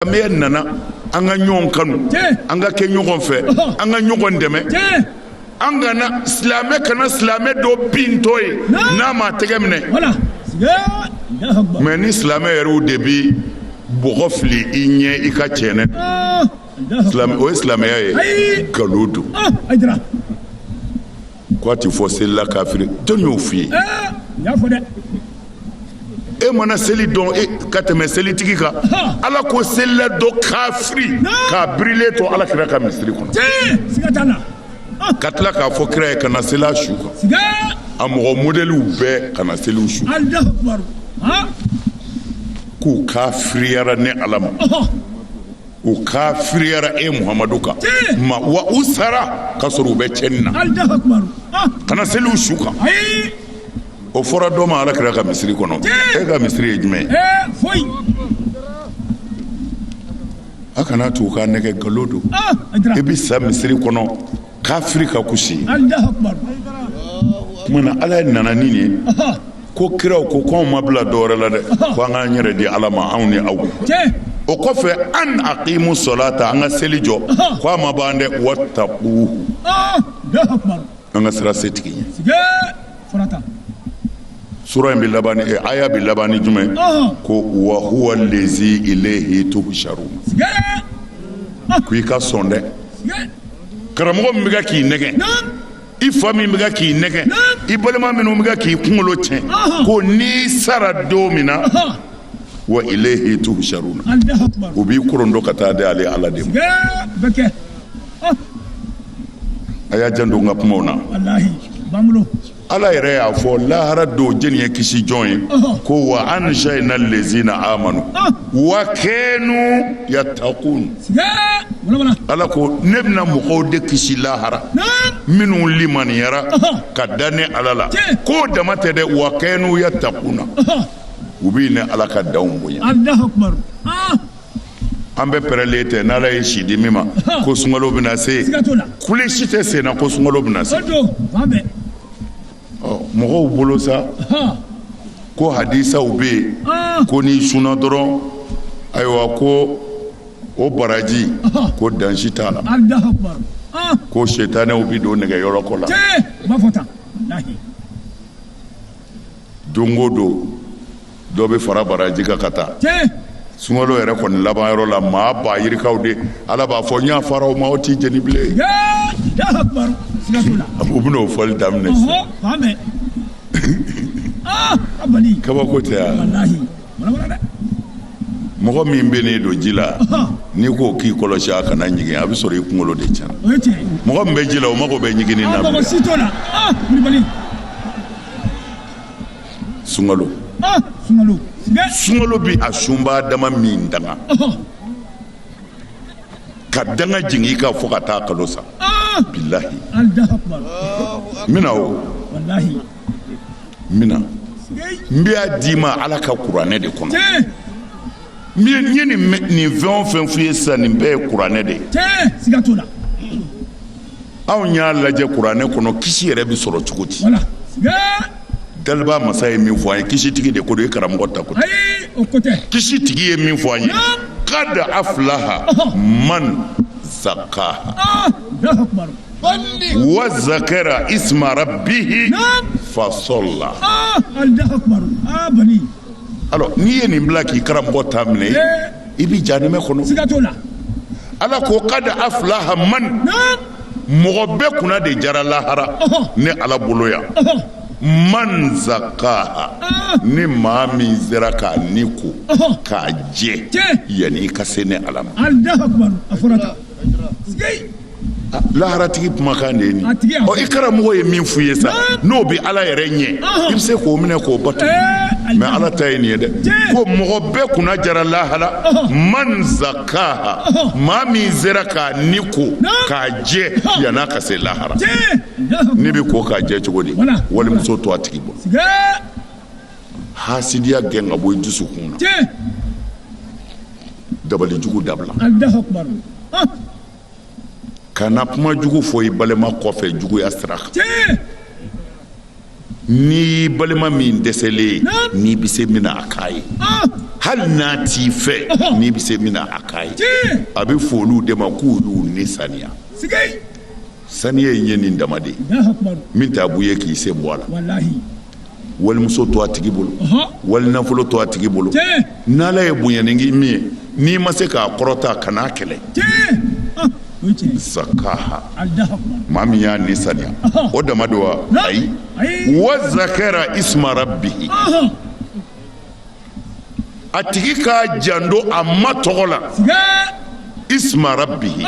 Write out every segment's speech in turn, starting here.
Silamɛya nana an ka ɲɔgɔn kanu an ka kɛ ɲɔgɔn fɛ an ka ɲɔgɔn dɛmɛ an kana silamɛ kana silamɛ dɔ bintɔ ye n'an m'a tɛgɛ minɛ mɛ ni silamɛ yɛrɛ de bɛ bɔgɔ fili i ɲɛ i ka cɛnɛ o ye silamɛya ye nkalon don K'a tɛ fɔ selila kafiri jɔn y'o f'i ye, aa, n y'a fɔ dɛ, e mana seli dɔn e ka tɛmɛ selitigi kan, ɔhɔ, Ala ko selila dɔ kafiri k'a birilen to Ala kira ka misiri kɔnɔ, tiɲɛ, siga t'a la, ɔn, ka tila k'a fɔ kira ye kana seli a su kan, siga, a mɔgɔ modɛliw bɛɛ kana seli u su kan, Alahu akibaru, ɔn, k'u kafiriyara ne Ala ma. ɔhɔ. u kafiriyara e muhamadu kan ma wa u sara ka sɔrɔ u bɛ cɛnni na ah. kana seli u su kan o fɔra dɔ ma ala kira ka misiri kɔnɔ e ka misiri ye jumɛn ye a kana to u k'a nɛgɛ nkalon don ah, i bɛ sa misiri kɔnɔ kafiri ka kusi munna ala ye nana ni ye ko kiraw ko ko anw ma bila dɔwɛrɛ la dɛ ko an k'an yɛrɛ di ala ma anw ni aw o kɔfɛ an aqimu solata an ka seli jɔ ko a ma ban dɛ wattaquhu an ka siran setigi ɲɛ sura in bɛ laban ni aya bɛ laban ni jumɛn ko wa huwa lezi ilayhi tuhsharun ko i ka sɔn dɛ karamɔgɔ min bɛ k'i nɛgɛ i fa min bɛ k'i nɛgɛ i balima minnu bɛ k'i kunkolo cɛn ko n'i sara don min na wa ilehi tuhsharuna u b'i korondon ka taa di ale ala de ma a y'a janto n ka kumaw na ala yɛrɛ y'a fɔ lahara don jɛni ye kisi jɔn ye ko wa anjayna lezina amanu wa kanu yattaqun ala ko ne bɛna mɔgɔw de kisi lahara minnu limaniyara ka da ne ala la k'o dama tɛ dɛ wa kanu yattaquna u bɛ ne ala ka danw bonya an bɛ pɛrɛnlen tɛ n'ala ye si di min ma ko sunkalo bɛna se kule si tɛ senna ko sun bɛna se mɔgɔw bolo sa ko hadisaw bɛ yen ko n'i sunna dɔrɔn ayiwa ko o baraji ko dan si t'a la ko setanɛw bɛ don nɛgɛyɔrɔkɔ la don o don dɔ bɛ fara baraji kan ka taa sunkalo yɛrɛ kɔni laban yɔrɔ la maa ba yirikaw de ala b'a fɔ n yafara o ma o t'i jeni bilen u bɛna o fɔli daminɛ kabako tɛ yan mɔgɔ min bɛ ne don ji la n'i ko k'i kɔlɔsi a kana ɲigin a bɛ sɔrɔ i kunkolo de tiɲɛna mɔgɔ min bɛ ji la o mago bɛ ɲigin na sunkalo sunkalo bɛ a sunbaa dama min danga ka danga jigin i kan fo ka taa kalo sa bilahi n bɛna o n bɛna n bɛ a d'i ma ala ka kuranɛ de kɔnɔ n ye nin fɛn o fɛn f'i ye sisan nin bɛɛ ye kuranɛ de ye anw y'a lajɛ kuranɛ kɔnɔ kisi yɛrɛ bɛ sɔrɔ cogo di daliba masa ye min fɔ an ye kisi tigi de ko don i karamɔgɔ ta ko tɛ kisi tigi ye min fɔ an ye kad aflaha man zakaha wa zakara isma rabihi fasala alors n'i ye nin bila k'i karamɔgɔ ta minɛ i bɛ jahanama kɔnɔ siga t'o la ala ko kad aflaha man mɔgɔ bɛɛ kunna de jara lahara ne ala bolo yan man zakaha ni maa min sera k'a ni ko k'a jɛ yanni i ka se ne ala ma laharatigi kumakan de ye nin ɔ i karamɔgɔ ye min f'i ye sa n'o bɛ ala yɛrɛ ɲɛ i bɛ se k'o minɛ k'o bato mɛ ala ta ye nin ye dɛ ko mɔgɔ bɛɛ kunna jara lahara man zakaha maa min sera k'a ni ko k'a jɛ yan'a ka se lahara ni bɛ ko k'a jɛ cogo di walimuso to a tigi bolo hasidiya gɛn ka bɔ i dusukun na dabali jugu dabila kana kuma jugu fɔ i balima kɔfɛ juguya sira kan n'i balima min dɛsɛlen n'i bɛ se min na k'a ye hali n'a t'i fɛ n'i bɛ se min na k'a ye a bɛ fɔ olu de ma k'u y'u ni saniya saniya in ye nin dama de ye min t'a b'u ye k'i sen bɔ a la walimuso to a tigi bolo wali nafolo to a tigi bolo n'ala ye bonya nin kɛ min ye n'i ma se k'a kɔrɔta kan'a kɛlɛ zakaha maa min y'a ni saniya o dama don wa ayi wa zakara isma rabihi a tigi k'a janto a ma tɔgɔ la isma rabihi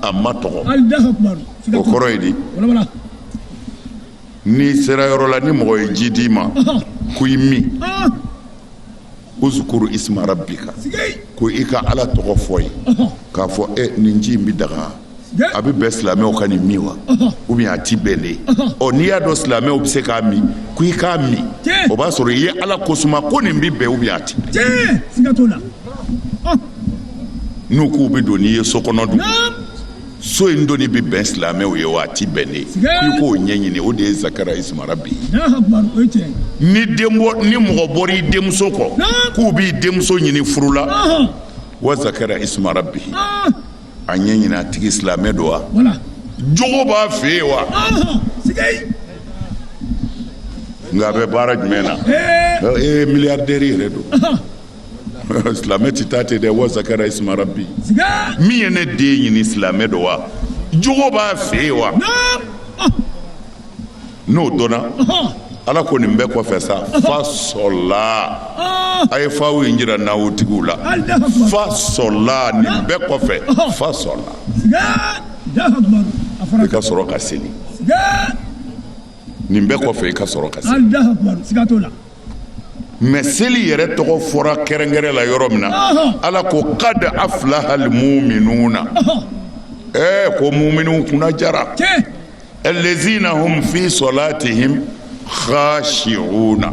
a ma tɔgɔ o kɔrɔ ye di n'i sera yɔrɔ la ni mɔgɔ ye ji d'i ma ko i min uzkuru isma rabbika ko i ka ala tɔgɔ fɔ ye k'a fɔ e nin ji in bɛ daga a bɛ bɛn silamɛw ka nin min wa ou bien a ti bɛn de ɔ n'i y'a dɔn silamɛw bɛ se k'a min ko i k'a min o b'a sɔrɔ i ye ala ko suma ko nin bɛ bɛn ou bien a ti bɛn n'u k'u bɛ don n'i ye so kɔnɔ dun so in donni bɛ bɛn silamɛw ye wa a ti bɛn de i k'o ɲɛɲini o de ye zakara isma rabbihi ni den ni mɔgɔ bɔra i denmuso kɔ k'u b'i denmuso ɲini furu la wa zakara isma rabbihi a ɲɛɲini a tigi silamɛ don wa jogo b'a fɛ yen wa nka a bɛ baara jumɛn na ee miliyardɛri yɛrɛ don silamɛ ti taa ten dɛ wa zakara isma rabbi min ye ne den ɲini silamɛ don wa jogo b'a fɛ yen wa n'o dɔnna ala ko nin bɛɛ kɔfɛ sa fa sɔla a ye faw in jira nahawu tigiw la fa sɔla nin bɛɛ kɔfɛ fa sɔla i ka sɔrɔ ka seli nin bɛɛ kɔfɛ i ka sɔrɔ ka seli mais seli yɛrɛ tɔgɔ fɔra kɛrɛnkɛrɛn la yɔrɔ min na ala ko qad aflaha al mu'minuna ɛɛ ko muminu kunna jara allazina hum fi salatihim khashi'una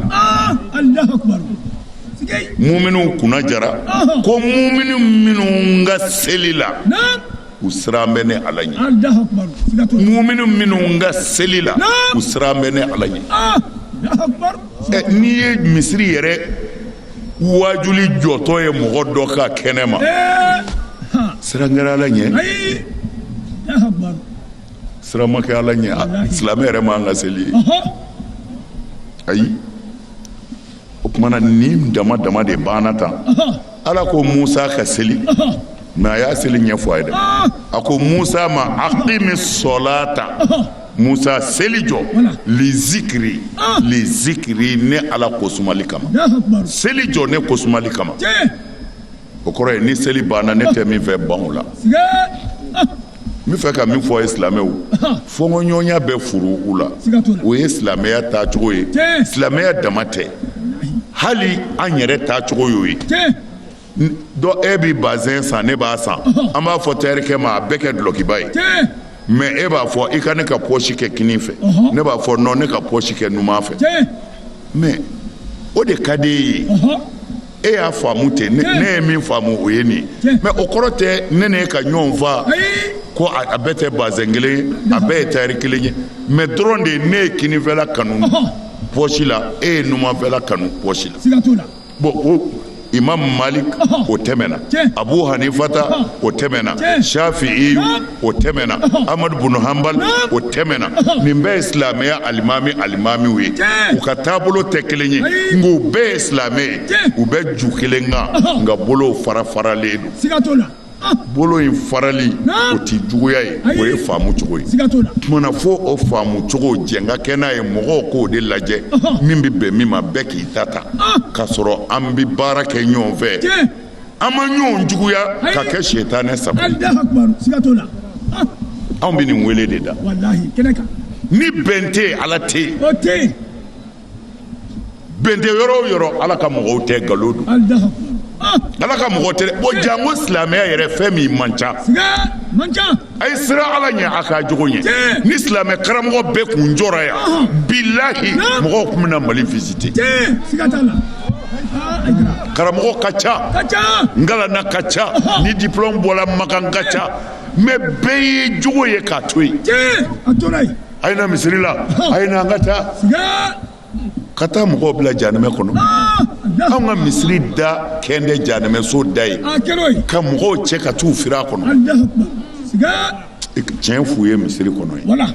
muminu kunna jara ko muminu minnu ka seli la u siran bɛ ne ala ɲɛ muminu minnu ka seli la u siran bɛ ne ala ɲɛ n'i ye misiri yɛrɛ wajuli jɔtɔ ye mɔgɔ dɔ ka kɛnɛ ma siran kɛra ala ɲɛ siran ma kɛ ala ɲɛ silamɛ yɛrɛ man kan ka seli yen ayi o tuma na nin dama dama de banna tan ala ko musa ka seli mais a ye seli ɲɛfɔ a ye dɛ a ko musa ma aqimi solata musa seli jɔ li zikiri li zikiri ne ala ko sumali kama seli jɔ ne ko sumali kama o kɔrɔ ye ni seli banna ne tɛ min fɛ ban o la n bɛ fɛ ka min fɔ ye silamɛw fɔnkɔɲɔgɔnya bɛ furu'u la o ye silamɛya taacogo ye silamɛya dama tɛ hali an yɛrɛ taacogo y'o ye dɔ e bɛ bazɛn san ne b'a san an b'a fɔ tayɛrikɛ ma a bɛɛ kɛ dulɔkiba ye mais e b'a fɔ i ka ne ka pɔsi kɛ kinin fɛ ne b'a fɔ non ne ka pɔsi kɛ numan fɛ mais o de ka d'e ye e y'a faamu ten ne ye min faamu o ye nin mɛ o kɔrɔ tɛ ne n'e ka ɲɔgɔn faa ko a bɛɛ tɛ bazɛn kelen ye a bɛɛ ye tari kelen ye mɛ dɔrɔn de ne ye kininfɛla kanu pɔsi la e ye numanfɛla kanu pɔsi la bɔn imamu maliki o tɛmɛna abu hanifata o tɛmɛna safi'i o tɛmɛna amadu bunu hanbali o tɛmɛna nin bɛɛ ye silamɛya alimami alimamiw ye u ka taabolo tɛ kelen ye nka u bɛɛ ye silamɛ ye u bɛ ju kelen kan nka bolow fara faralen don bolo in farali o tɛ juguya ye o ye faamu cogo ye tumana fo o faamu cogo jɛnka kɛ n'a ye mɔgɔw k'o de lajɛ min bɛ bɛn min ma bɛɛ k'i ta ta k'a sɔrɔ an bɛ baara kɛ ɲɔgɔn fɛ an ma ɲɔgɔn juguya ka kɛ setanɛ sabu anw bɛ nin wele de da ni bɛn tɛ ala tɛ yen bɛn tɛ yɔrɔ o yɔrɔ ala ka mɔgɔw tɛ nkalon don ala ka mɔgɔ tɛ o janko silamɛya yɛrɛ fɛn min man ca a ye siran ala ɲɛ a ka jogo ɲɛ ni silamɛ karamɔgɔ bɛɛ kun jɔra yan bilahi mɔgɔw tun bɛna mali visite karamɔgɔ ka ca n kalanna ka ca ne diplɔme bɔra makan ka ca mɛ bɛɛ ye jogo ye k'a to yen a ye na misiri la a ye na an ka taa ka taa mɔgɔw bila janɛmɛ kɔnɔ anw ka misiri da kɛlen bɛ janɛmɛso da ye ka mɔgɔw cɛ ka t'u fili a kɔnɔ tiɲɛ f'u ye misiri kɔnɔ ye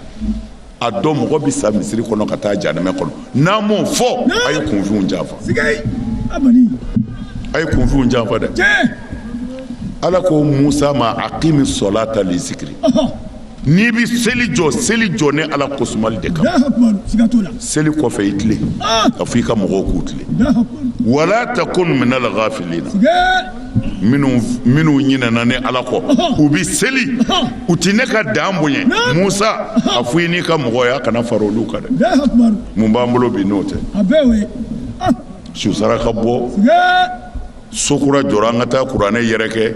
a dɔn mɔgɔ bɛ sa misiri kɔnɔ ka taa janɛmɛ kɔnɔ n'a m'o fɔ a ye kunfinw janfa a ye kunfinw janfa dɛ ala ko musa ma aqimi solata li zikiri N'i bɛ seli jɔ seli jɔ ne ala ko sumali de kan seli kɔfɛ i tilen k'a fɔ i ka mɔgɔw k'u tilen wala takun minal gafilina minnu ɲinɛna ne ala kɔ u bɛ seli u tɛ ne ka dan bonya musa a fɔ i n'i ka mɔgɔ ye a kana fara olu kan dɛ mun b'an bolo bi n'o tɛ su saraka bɔ sokura jɔra an ka taa kuranɛ yɛrɛkɛ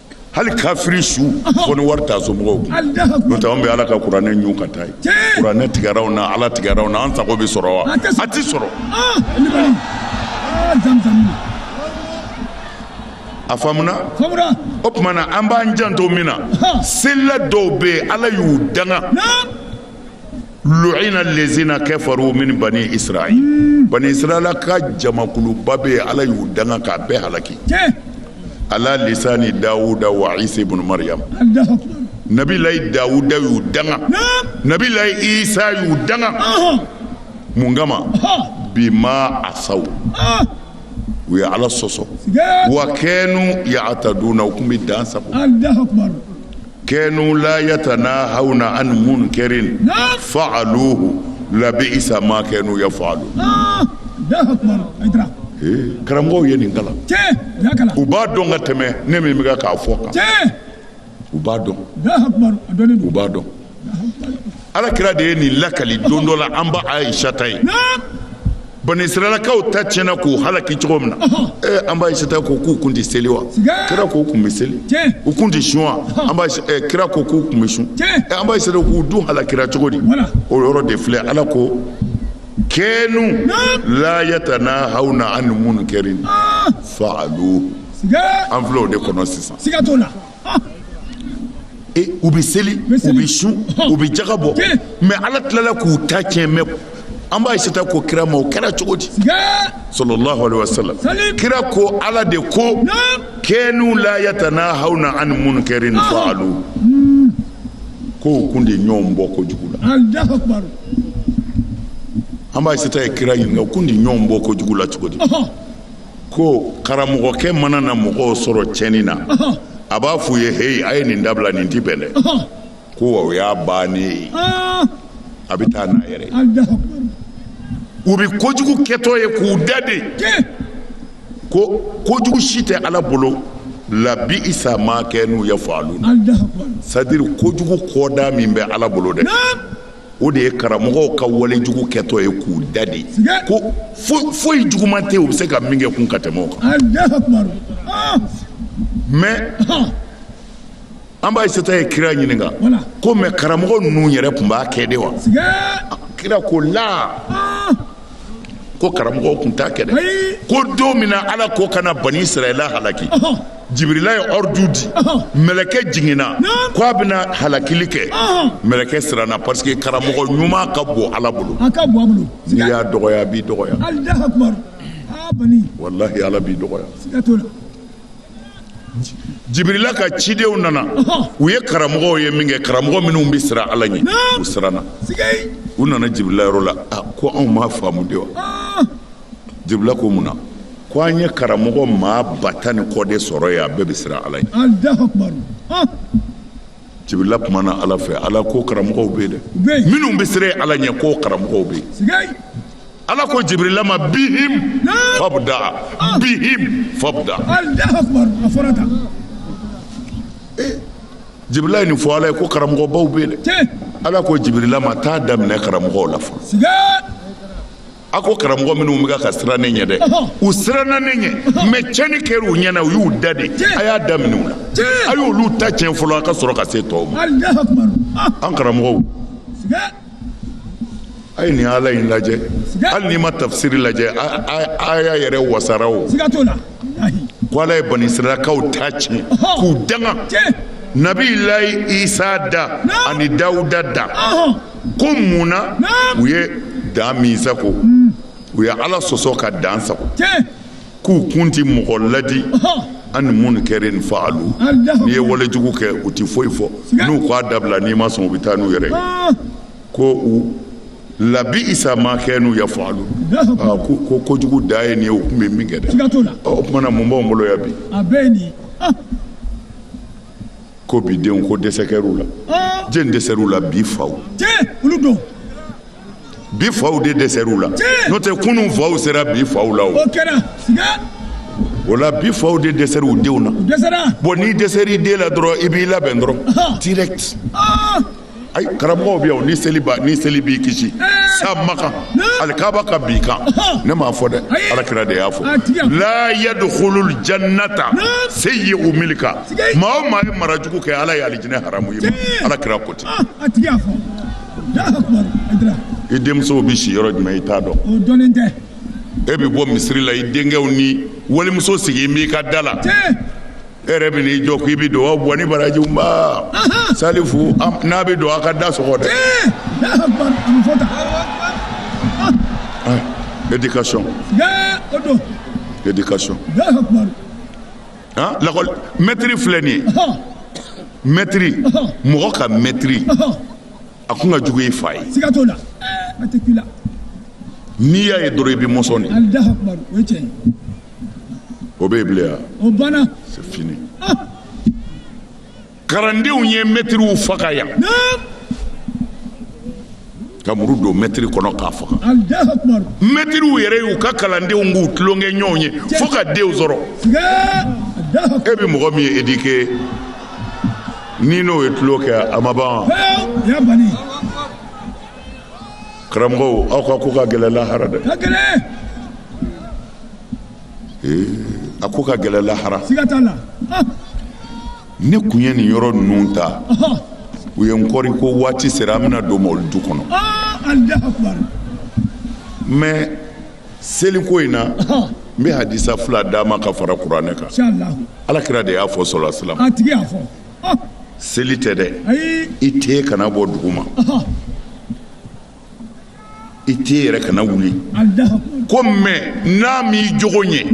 hali kafiri su fo ni wari t'a somɔgɔw kun n'o tɛ anw bɛ ala ka kuranɛ ɲun ka taa yen kuranɛ tigɛra anw na ala tigɛra anw na an sago bɛ sɔrɔ wa a tɛ sɔrɔ a faamuna o tuma na an b'an janto min na selila dɔw bɛ yen ala y'u danga luina lezina kafaru min bani israil bani israila ka jamakuluba bɛ yen ala y'u danga k'a bɛɛ halaki ala lisani dawuda wa isa ibn maryam nabilayi dawuda y'u danga nabilayi isa y'u danga mun kama bima asaw u ye ala sɔsɔ wa kɛnu yataduna u tun bɛ dan sago kɛnu la yatanahawna an munkarin faaluhu labiisa ma kɛnu yafalun karamɔgɔw ye nin kalan u b'a dɔn ka tɛmɛ ne min bɛ k'a fɔ kan u b'a dɔn u b'a dɔn ala kira de ye nin lakali don dɔ la an ba ayisata ye bani israilakaw ta tiɲɛna k'u halaki cogo min na ee an ba ayisata ko k'u kun tɛ seli wa kira ko k'u kun bɛ seli u kun tɛ sun wa an ba kira ko k'u kun bɛ sun an ba ayisata k'u dun halakira cogo di o yɔrɔ de filɛ ala ko kɛnu la yatanahawna an munkarin faalu an filɛ o de kɔnɔ sisan U bɛ seli u bɛ sun u bɛ jaka bɔ mɛ ala tilala k'u ta cɛn mɛ an ba ayisata ko kira ma o kɛra cogo di sallallahu alayhi wasallam kira ko ala de ko kɛnu la yatanahawna an munkarin faalu ko u kun tɛ ɲɔgɔn bɔ kojugu la an ba ayisata ye kira ɲininka u kun tɛ ɲɔgɔn bɔ kojugu la cogo di ko karamɔgɔkɛ mana na mɔgɔw sɔrɔ cɛnni na a b'a f'u ye heyi a ye nin dabila nin ti bɛn dɛ ko wa o y'a bannen ye a bɛ taa n'a yɛrɛ ye u bɛ kojugu kɛtɔ ye k'u dade ko kojugu si tɛ ala bolo labiisa ma kɛnu yafaluna c'est-à-dire kojugu kɔdan min bɛ ala bolo dɛ o de ye karamɔgɔw ka walejugu kɛtɔ ye k'u dade ko foyi juguman tɛ u bɛ se ka min kɛ kun ka tɛmɛ o kan mɛ an ba ayisata ye kira ɲininka ko mɛ karamɔgɔ ninnu yɛrɛ tun b'a kɛ de wa kira ko la ko karamɔgɔw tun t'a kɛ dɛ ko don min na ala ko k'a na bani israila halaki jibirila ye ordre di mɛlɛkɛ jiginna ko a bɛna halakili kɛ mɛlɛkɛ siranna parce que karamɔgɔ ɲuman ka bon ala bolo n'i y'a dɔgɔya a b'i dɔgɔya walahi ala b'i dɔgɔya Jibirila ka cidenw nana u ye karamɔgɔw ye min kɛ karamɔgɔ minnu bɛ siran ala ɲɛ u siranna u nana jibirila yɔrɔ la ko anw m'a faamu de wa jibirila ko mun na ko an ye karamɔgɔ maa ba tan ni kɔ de sɔrɔ yen a bɛɛ bɛ siran ala ɲɛ jibirila kumana ala fɛ ala ko karamɔgɔw bɛ yen dɛ minnu bɛ siran ala ɲɛ ko karamɔgɔw bɛ ala ko jibirila ma bihim fabda bihim fabda jibirila ye nin fɔ ala ye ko karamɔgɔbaw bɛ yen dɛ ala ko jibirila ma taa daminɛ karamɔgɔw la fɔlɔ a ko karamɔgɔ minnu bɛ ka siran ne ɲɛ dɛ u siranna ne ɲɛ mais cɛnni kɛra u ɲɛna u y'u da de a y'a daminɛ u la a y'olu ta tiɲɛ fɔlɔ a ka sɔrɔ ka se tɔw ma an karamɔgɔw a ye nin ala in lajɛ hali n'i ma tafisiri lajɛ aya yɛrɛ wasara o ko ala ye bani israilakaw ta tiɲɛ k'u danga nabi layi isa da ani dawuda da ko mun na u ye dan min sago u ye ala sɔsɔ ka dan sago k'u kun tɛ mɔgɔ laadi an munkarin fa'alu n'i ye walejugu kɛ u tɛ foyi fɔ n'u k'a dabila n'i ma sɔn u bɛ taa n'u yɛrɛ ko u labi'sa ma kanu yaf'alun ko kojugu da ye nin ye u tun bɛ min kɛ dɛ o tuma na mun b'anw bolo yan bi ko bi denw ko dɛsɛ kɛr'u la jɛn dɛsɛr'u la bi faw bi faw de dɛsɛr'u la n'o tɛ kunun faw sera bi faw la o o la bi faw de dɛsɛr'u denw na bon n'i dɛsɛr'i den la dɔrɔn i b'i labɛn dɔrɔn direct ayi karamɔgɔw bɛ yan ni seli ba ni seli b'i kisi sa makan alikaba ka b'i kan ne m'a fɔ dɛ alakira de y'a fɔ la yadkhulul jannata sayyi'u milka maa o maa ye mara jugu kɛ ala ye alijinɛ haramu ye alakira ko ten i denmusow bɛ si yɔrɔ jumɛn i t'a dɔn o dɔnnen tɛ e bɛ bɔ misiri la i denkɛw ni walimuso sigilen b'i ka da la e yɛrɛ bɛ n'i jɔ k'i bɛ don aw bɔ ni baraji ba salifu n'a bɛ don aw ka da sɔgɔ dɛ éducation éducation lakɔli mɛtiri filɛ nin ye mɛtiri mɔgɔ ka mɛtiri a kun ka jugu i fa ye siga t'o la a tɛ k'i la n'i y'a ye dɔrɔn i bɛ mɔsɔn de alidaha kumaru o ye tiɲɛ ye o bɛ yen bilen wa o banna c'est fini ah karandenw ye mɛtiriw faga yan naam ka muru don mɛtiri kɔnɔ k'a faga alidaha kumaru mɛtiriw yɛrɛ y'u ka kalandenw k'u tulonkɛɲɔgɔn ye fo ka denw sɔrɔ siga alidaha e bɛ mɔgɔ min ye éduqué Ni n'o ye tulon kɛ a ma ban wa? Karamɔgɔw aw ka ko ka gɛlɛn lahara dɛ, a ko ka gɛlɛn lahara, siga t'a la, ne kun ye nin yɔrɔ ninnu ta u ye n kɔri ko waati sera an bɛna don Mɔwlidu kɔnɔ mais seliko in na n bɛ hadisa fila d'a ma ka fara kuranɛ kan ala kira de y'a fɔ sɔla salam seli tɛ dɛ i ten kana bɔ dugu ma i ten yɛrɛ kana wuli ko mais n'a m'i jogo ɲɛ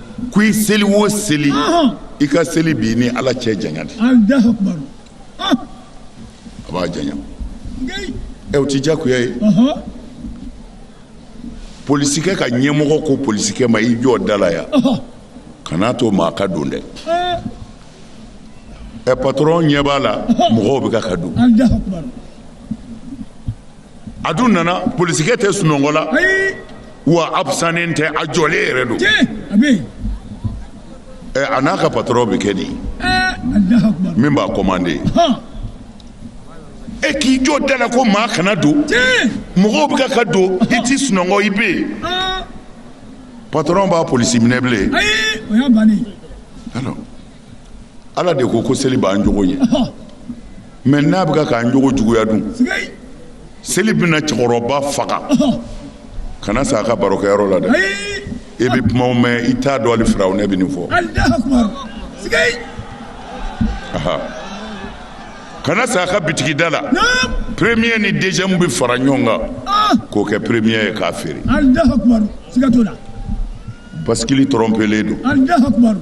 ko i seli o seli i ka seli b'i ni ala cɛ janya de a b'a janya ɛ o ti diyagoya ye polisikɛ ka ɲɛmɔgɔ ko polisikɛ ma i jɔ da la yan kan'a to maa ka don dɛ ɛ patɔrɔn ɲɛ b'a la mɔgɔw bɛ ka ka don a dun nana polisikɛ tɛ sunɔgɔ la wa a absannen tɛ a jɔlen yɛrɛ don a n'a ka patɔrɔn bɛ kɛ di min b'a komande e k'i jɔ da la ko maa kana don mɔgɔw bɛ ka ka don i tɛ sunɔgɔ i bɛ yen patɔrɔn b'a polisi minɛ bilen Ala de ko ko seli b'an jogo ɲɛ mais n'a bɛ k'an jogo juguya dun seli bɛna cɛkɔrɔba faga kana s'a ka barokɛyɔrɔ la dɛ i bɛ kumaw mɛn i t'a dɔn hali Firawuna bɛ nin fɔ kana s'a ka bitigida la premier ni deuxième bɛ fara ɲɔgɔn kan k'o kɛ premier ye k'a feere basikili tɔrɔnpelen don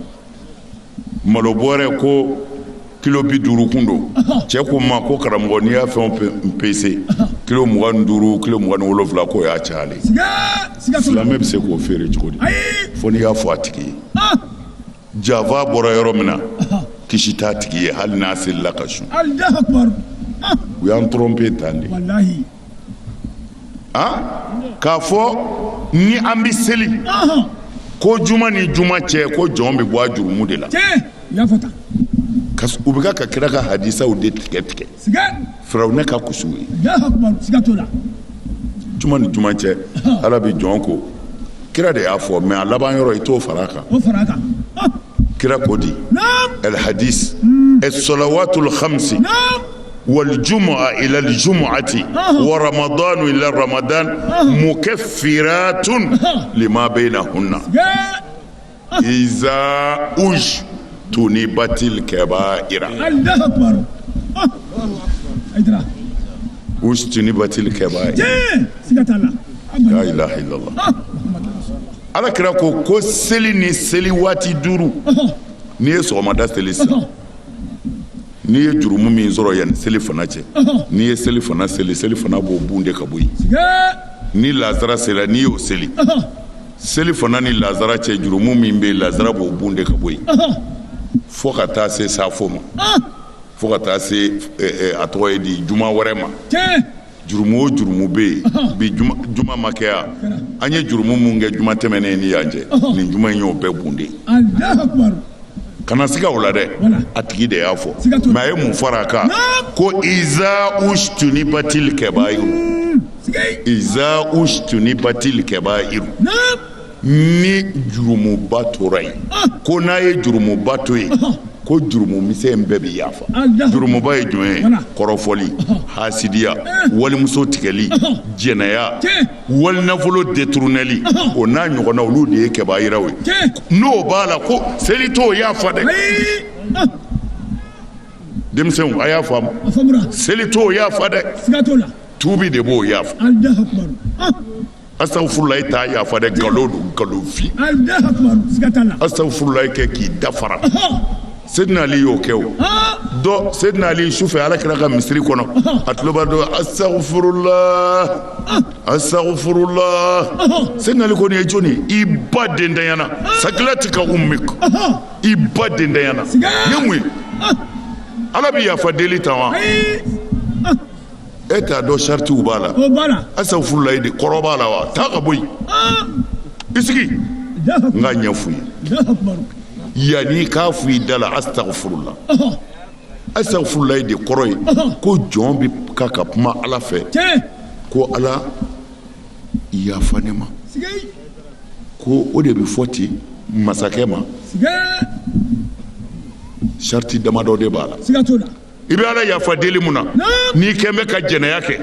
malo bɔrɛ ko kilo bi duuru kun don cɛ ko n ma ko karamɔgɔ n'i y'a fɛn o fɛn pese kilo mugan ni duuru kilo mugan ni wolonfila k'o y'a cayalen ye silamɛ bɛ se k'o feere cogo di fo n'i y'a fɔ a tigi ye janfa bɔra yɔrɔ min na kisi t'a tigi ye hali n'a selila ka sun u y'an tɔrɔnpe tan de a k'a fɔ ni an bɛ seli ko juma ni juma cɛ ko jɔn bɛ bɔ a jurumu de la u bɛ ka kira ka hadisaw de tigɛ tigɛ firawuna ka kusu ye juma ni juma cɛ ala bɛ jɔn ko kira de y'a fɔ mais a laban yɔrɔ i t'o fara a kan kira ko di alihadisi asalawatul hamsi waljumu'a ilal jumu'ati wa ramadan ila ramadan mukaffiratun lima baynahunna iza ujtunibatil kabaira ujtunibatil kabair lahila ala kira ko ko seli ni seli waati duuru n'i ye sɔgɔmada seli sa n'i ye jurumu min sɔrɔ yan ni selifana cɛ n'i ye selifana seli selifana b'o bunde ka bɔ yen ni lasara sera n'i y'o seli selifana ni lasara cɛ jurumu min bɛ lasara b'o bunde ka bɔ yen fo ka taa se safo ma fo ka taa se a tɔgɔ ye di juma wɛrɛ ma jurumu o jurumu bɛ yen bi juma ma kɛya an ye jurumu minnu kɛ juma tɛmɛnen ni yan cɛ nin juma in y'o bɛɛ bunde kana siga o la dɛ a tigi de y'a fɔ mais a ye mun fara a kan ko iza ujtunibatil kabairu iza ujtunibatil kabairu ni jurumuba tora yen ko n'a ye jurumuba to yen ko jurumu misɛn bɛɛ bɛ yafa jurumuba ye jumɛn ye kɔrɔfɔli hasidiya walimuso tigɛli jɛnɛya walinafolo détournéli o n'a ɲɔgɔnna olu de ye kabairaw ye n'o b'a la ko seli t'o yafa dɛ denmisɛnw a y'a faamu seli t'o yafa dɛ tuubi de b'o yafa astagfirullahi t'a yafa dɛ nkalon don nkalonfin astagfirullahi kɛ k'i dafara sedina ali y'o kɛ o dɔ sedina ali sufɛ ala kira ka misiri kɔnɔ a tulo b'a dɔ astagfirullah astagfirullah sedina ali ko nin ye jɔni i ba dendanyana sakilatika ummik i ba dendanyana nin ye mun ye ala bɛ yafa deli tan wa e t'a dɔn saritiw b'a la astagfirullahi de kɔrɔ b'a la wa taa ka bɔ yen ah! i sigi n k'a ɲɛfɔ i ye yanni k'a fɔ i da la astagfirullah astagfirullahi de kɔrɔ ye ko jɔn bɛ ka ka kuma ala fɛ ko ala yafa ne ma ko o de bɛ fɔ ten masakɛ ma sariti damadɔ de b'a la i bɛ ala yafa deli mun na n'i kun bɛ ka jɛnɛya kɛ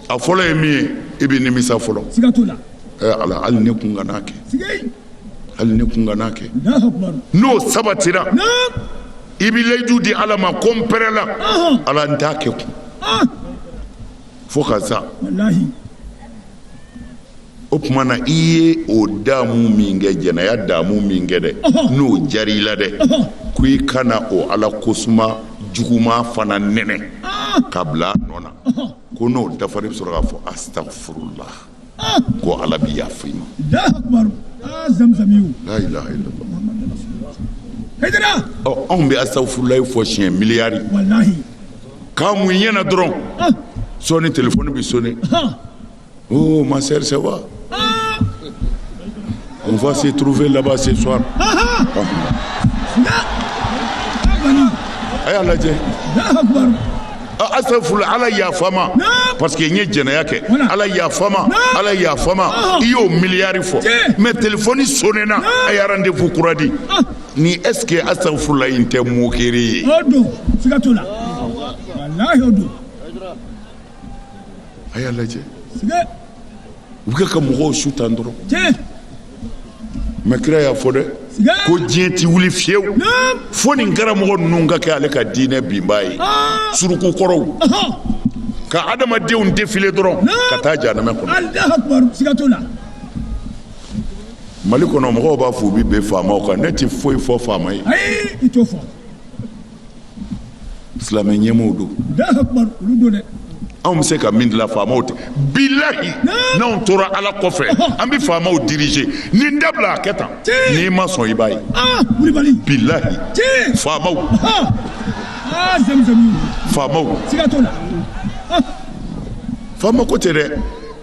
a fɔlɔ ye min ye i bɛ nimisa fɔlɔ ala hali ne kun kan'a kɛ hali ne kun kan'a kɛ n'o sabatira i bɛ layidu di ala ma ko n pɛrɛla ala n t'a kɛ kun fo ka sa o tuma na i ye o damu min kɛ jɛnɛya damu min kɛ dɛ n'o diyara i la dɛ ko i kana o ala kosuma juguman fana nɛnɛ ka bila a nɔ na ko n'o dafara i bɛ sɔrɔ k'a fɔ astagfirullah ko ala bɛ yafa i ma la ilaha illallah anw bɛ astagfirullah fɔ siɲɛ miliyari k'a mun i ɲɛ na dɔrɔn sɔɔni telefɔni bɛ sone oh ma sœur ça va on va se trouver là-bas ce soir a y'a lajɛ astagfirullah ala yafa n ma parce que n ye jɛnɛya kɛ ala yafa n ma ala yafa n ma i y'o miliyari fɔ mais telefɔni sonena a ye rendez-vous kura di ni est ce que astagfirullah in tɛ moquerie ye o don siga t'o la walahi o don a y'a lajɛ u bɛ ka mɔgɔw su tan dɔrɔn mais kira y'a fɔ dɛ ko diɲɛ tɛ wuli fiyewu fo nin karamɔgɔ ninnu ka kɛ ale ka diinɛ binbaa ye ah. suruku kɔrɔw ka adamadenw defile dɔrɔn ka taa janamɛ kɔnɔ mali kɔnɔ mɔgɔw b'a fɔ u bɛ bɛn faamaw kan ne tɛ foyi fɔ faama ye silamɛ ɲɛmɔgɔw don anw bɛ se ka min dilan faamaw tɛ bilahi n'anw tora ala kɔfɛ an bɛ faamaw dirije nin dabila a kɛ tan n'i ma sɔn i b'a ye ah, bilahi faamaw ah, ah, faamaw faama ko tɛ dɛ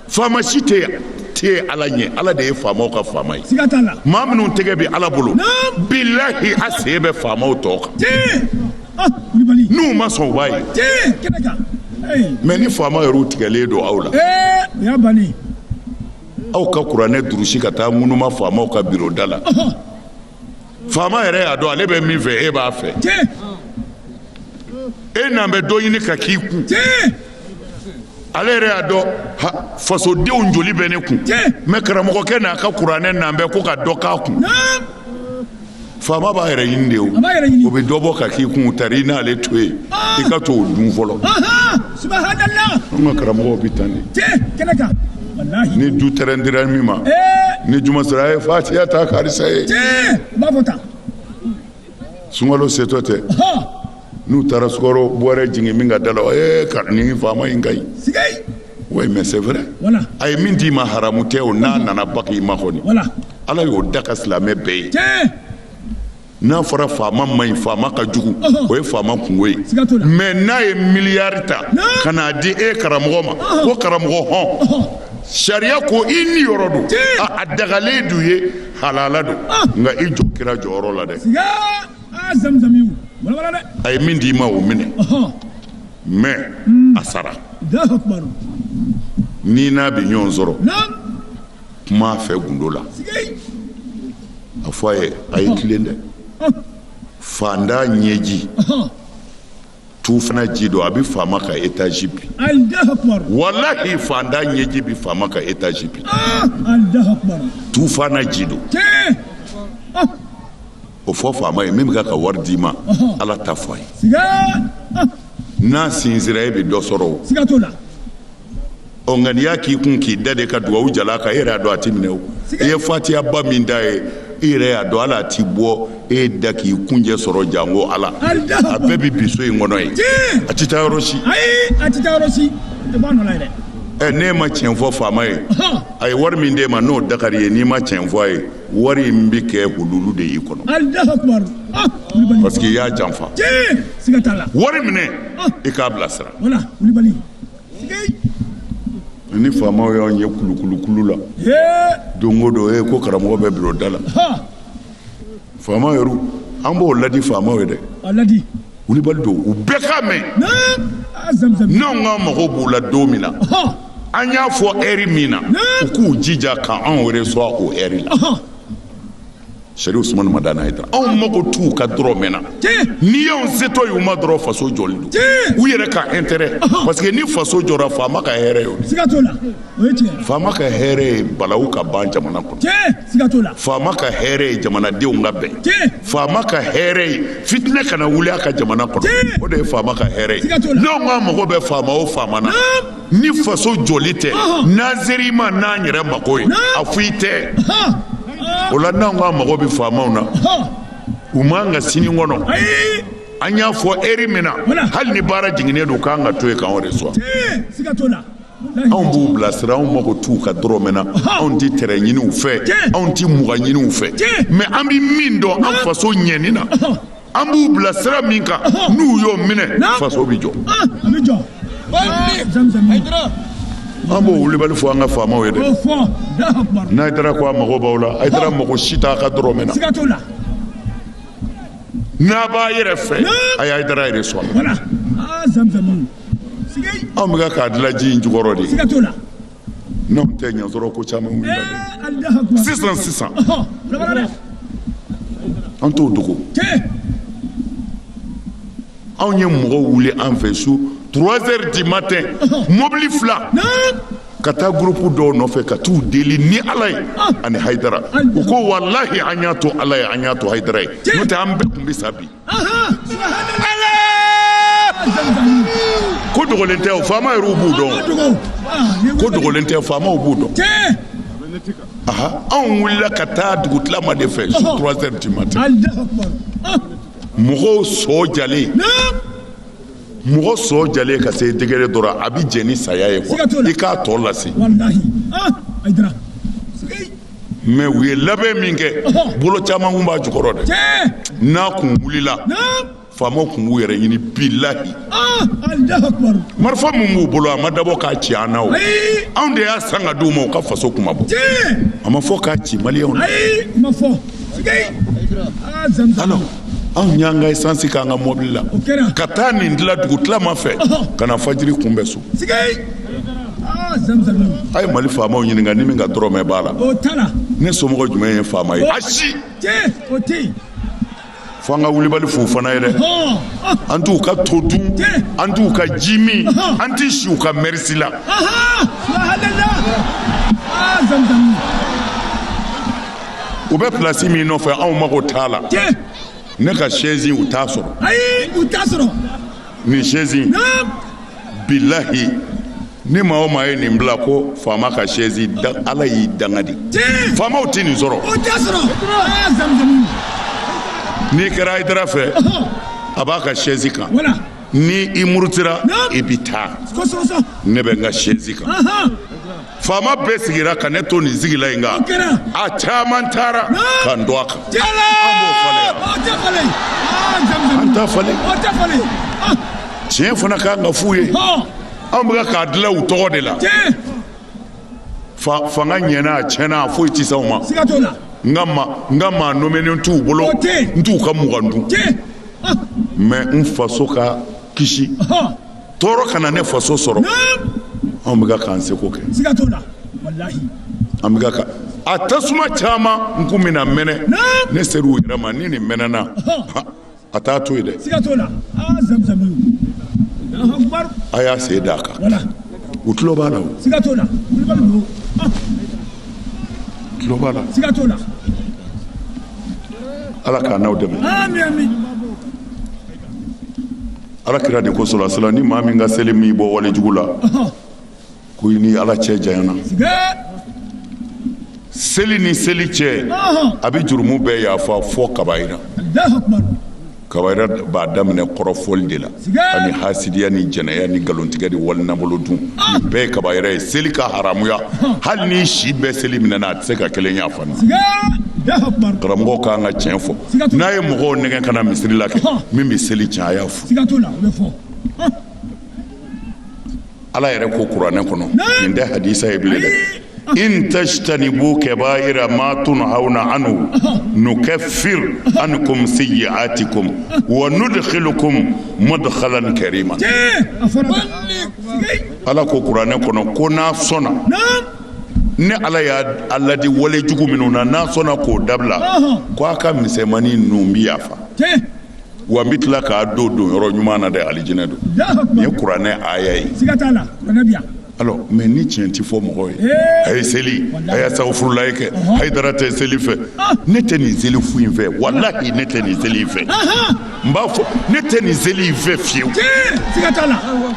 faama si tɛ ala ɲɛ ala de ye faamaw ka faama ye siga t'a la maa minnu tɛgɛ bɛ ala bolo Naam. bilahi a sen bɛ faamaw tɔ kan tiɲɛ ah kulibali n'u ma sɔn u b'a ye tiɲɛ kɛnɛ kan ee mais ni faama yɛrɛw tigɛlen don aw la ee o y'a bannen aw ka kuranɛ durusi ka taa ŋunuma faamaw ka biro da la ɔhɔn faama yɛrɛ y'a dɔn ale bɛ min fɛ e b'a fɛ e n'an bɛ dɔ ɲini ka k'i kun ale yɛrɛ y'a dɔn fasodenw joli bɛ ne kun mais karamɔgɔkɛ n'a ka kuranɛ n'an bɛ ko ka dɔ k'a kun faama b'a yɛrɛ ɲini de o bɛ dɔ bɔ ka k'i kun tari i n'ale to yen i ka to o dun fɔlɔ An ka karamɔgɔw bɛ tan de ni du tɛrɛn dira min ma ni juma sera a ye fatiya ta karisa ye sunkalo setɔ tɛ n'u taara sukaro bɔrɛ jigin min ka da la ko nin faama in ka ɲi oui mais c'est vrai a ye min d'i ma haramu tɛ o n'a nana ba i ma kɔni ala y'o daga silamɛ bɛɛ bɛɛ ye n'a fɔra faama man ɲi faama ka jugu o ye faama kunko ye mais n'a ye miliyari ta ka n'a di e karamɔgɔ ma ko karamɔgɔ hɔn sariya ko i niyɔrɔ don a dagalen d'u ye halala don nka i jɔ kira jɔyɔrɔ la dɛ a ye min di i ma o minɛ mais a sara n'i n'a bɛ ɲɔgɔn sɔrɔ kuma a fɛ gundo la a fɔ a ye a ye tilen dɛ faantan ɲɛji tufana ji don a bɛ faama ka etazi bin walahi faantan ɲɛji bɛ faama ka etazi bin ah, tufana ji don ah. o fɔ faama ye min bɛ ka wari d'i ma ala ta fɔ a ye ah. n'a sisira e bɛ dɔ sɔrɔ o ɔ nka n'i y'a k'i kun k'i da de ka dugawu jalan kɛ e yɛrɛ y'a dɔn a tɛ minɛ o i ye fatiyaba min d'a ye i yɛrɛ y'a dɔn ala a tɛ bɔ e da k'i kuncɛ sɔrɔ janko ala a bɛɛ bɛ bin so in kɔnɔ yen a tɛ taa yɔrɔ si a tɛ taa yɔrɔ si a tɛ bɔ a nɔ la yɛrɛ ɛ n'e ma tiɲɛ fɔ faama ye a ye wari min d'e ma n'o dagar'i ye n'i ma tiɲɛ fɔ a ye wari in bɛ kɛ hululu de y'i kɔnɔ parce que i y'a janfa wari minɛ i k'a bilasira ni faamaw y'an ye kulukulukulu la don o don e ko karamɔgɔ bɛ biro da la faama yɛrɛ an b'o ladi faamaw ye dɛ kulubali don u bɛɛ k'a mɛn n'an ka mago b'u la don min na an y'a fɔ heure min na u k'u jija k'an recevoir o heure la sɛrifu usumani madani hayidara anw mago t'u ka dɔrɔmɛ na n'i y'anw setɔ ye u ma dɔrɔn faso jɔli don u yɛrɛ ka intérêt parce que ni faso jɔra faama ka hɛrɛ ye o siga t'o la o ye tiɲɛ faama ka hɛrɛ ye balawu ka ban jamana kɔnɔ tiɲɛ siga t'o la faama ka hɛrɛ ye jamanadenw ka bɛn tiɲɛ faama ka hɛrɛ ye fitinɛ kana wuli a ka jamana kɔnɔ o de ye faama ka hɛrɛ ye n'anw ka mago bɛ faama o faama na ni faso jɔli tɛ n'an ser'i ma n'an yɛrɛ mago ye a foyi tɛ o la n'an ka mago bɛ faamaw na u man ka sini kɔnɔ an y'a fɔ heure min na hali ni baara jiginnen don k'a ka to yen k'an recevoir anw b'u bilasira anw mago t'u ka dɔrɔmɛ na anw tɛ tɛrɛn ɲini u fɛ anw tɛ mugan ɲini u fɛ mais an bɛ min dɔn an faso ɲɛni na an b'u bila sira min kan n'u y'o minɛ faso bɛ jɔ an b'o wulibali fɔ an ka faamaw ye dɛ n'ayidara ko a mago b'aw la ayidara mago si t'a ka dɔrɔmɛ na n'a b'a yɛrɛ fɛ a y'a dara yɛrɛ sɔrɔ anw bɛ k'a dilan ji in jukɔrɔ de ye N'o tɛ i n'a sɔrɔ ko caman sisan sisan an t'o dogo anw ye mɔgɔw wuli an fɛ su trois heures du matin mɔbili fila ka taa groupe dɔw nɔfɛ ka t'u deli ni ala ye ani ayidara u ko walahi an y'a to ala ye an y'a to ayidara ye n'o tɛ an bɛɛ tun bɛ sa bi ko dogolen tɛ o faama yɛrɛw b'u dɔn ko dogolen tɛ faamaw b'u dɔn anw wulila ka taa dugutilama de fɛ su trois heures du matin mɔgɔw sɔn jalen mɔgɔ sɔn jalen ka se degere dɔ ra a bɛ jɛn ni saya ye quoi i k'a tɔ lase ah, mais u ye labɛn min kɛ bolo caman kun b'a jukɔrɔ dɛ n'a kun wulila faamaw kun b'u yɛrɛ ɲini bilahi ah, marifa min b'u bolo a ma dabɔ k'a ci an na o anw de y'a san ka di u ma u ka faso kunmabɔ a ma fɔ k'a ci maliyɛnw na ah, alors anw y'an ka esansi k'an ka mɔbili la ka taa nin dilan dugutilama fɛ ka na fajiri kunbɛn so ah, a ye mali faamaw ɲininka ni min ka dɔrɔmɛ b'a la ne somɔgɔ jumɛn ye faama ye ayi fo an ka wulibali f'u fana ye dɛ an t'u ka to dun an t'u ka ji min an tɛ si u ka mɛrisi la ah, u bɛ plasi min nɔfɛ anw mago t'a la ne ka sɛzi u t'a sɔrɔ ayi u t'a sɔrɔ nin sɛzi bilahi ni maa o maa ye nin bila ko faama ka sɛzi ala y'i danga de faamaw tɛ nin sɔrɔ n'i kɛra ayidara fɛ a b'a ka sɛzi kan ni i murutira i bɛ taa ne bɛ n ka sɛzi kan faama bɛɛ sigira ka ne to nin sigilan in kan a caman taara ka n to a kan an b'o falen an t'a falen tiɲɛ fana ka kan ka f'u ye an bɛ k'a dilan u tɔgɔ de la fanga ɲɛna a tiɲɛna a foyi tɛ s'anw ma n ka ma n ka maa nɔmenen t'u bolo n t'u ka mugan dun mais n faso ka kisi tɔɔrɔ kana ne faso sɔrɔ anw bɛ k'an seko kɛ an bɛ a tasuma caman kun bɛna mɛnɛ ne sera u yɛrɛ ma ni nin mɛnɛna a t'a to yen dɛ a y'a sen d'a kan u tulo b'a la o tulo b'a la ala k'an n'aw dɛmɛ Ala kira de ko sɔrɔla ni maa min ka seli m'i bɔ wale jugu la ko i ni ala cɛ janyana seli ni seli cɛ a bɛ jurumu bɛɛ yafa fo kabayira kabayira b'a daminɛ kɔrɔfɔli de la ani hasidiya ni jɛnɛya ni nkalontigɛ ni wali nabolo dun nin bɛɛ ye kabayira ye seli ka haramuya hali n'i si bɛɛ seli minɛna a tɛ se ka kelen yafa karamɔgɔw k'an ka tiɲɛ fɔ n'a ye mɔgɔw nɛgɛn ka na misiri la kɛ min bɛ seli tiɲɛ a y'a fɔ ala yɛrɛ ko kuranɛ kɔnɔ nin tɛ hadisa ye bilen dɛ in tajtanibu kabaira ma tunhauna anhu nukaffir ankum sayyi'atikum wa nudkhilukum mudkhalan karima ala ko kuranɛ kɔnɔ ko n'a sɔnna ne ala y'a laadi wale jugu minnu na n'a sɔnna k'o dabila ko a ka misɛnmani ninnu bɛ yafa wa n bɛ tila k'a do don yɔrɔ ɲuman na dɛ alijinɛ don nin ye kuranɛ aya ye alors mais ni tiɲɛ tɛ fɔ mɔgɔ ye a ye seli a ye asafurulayi kɛ hayidara tɛ seli fɛ ne tɛ nin seli fu in fɛ walahi ne tɛ nin seli in fɛ n b'a fɔ ne tɛ nin seli in fɛ fiyewu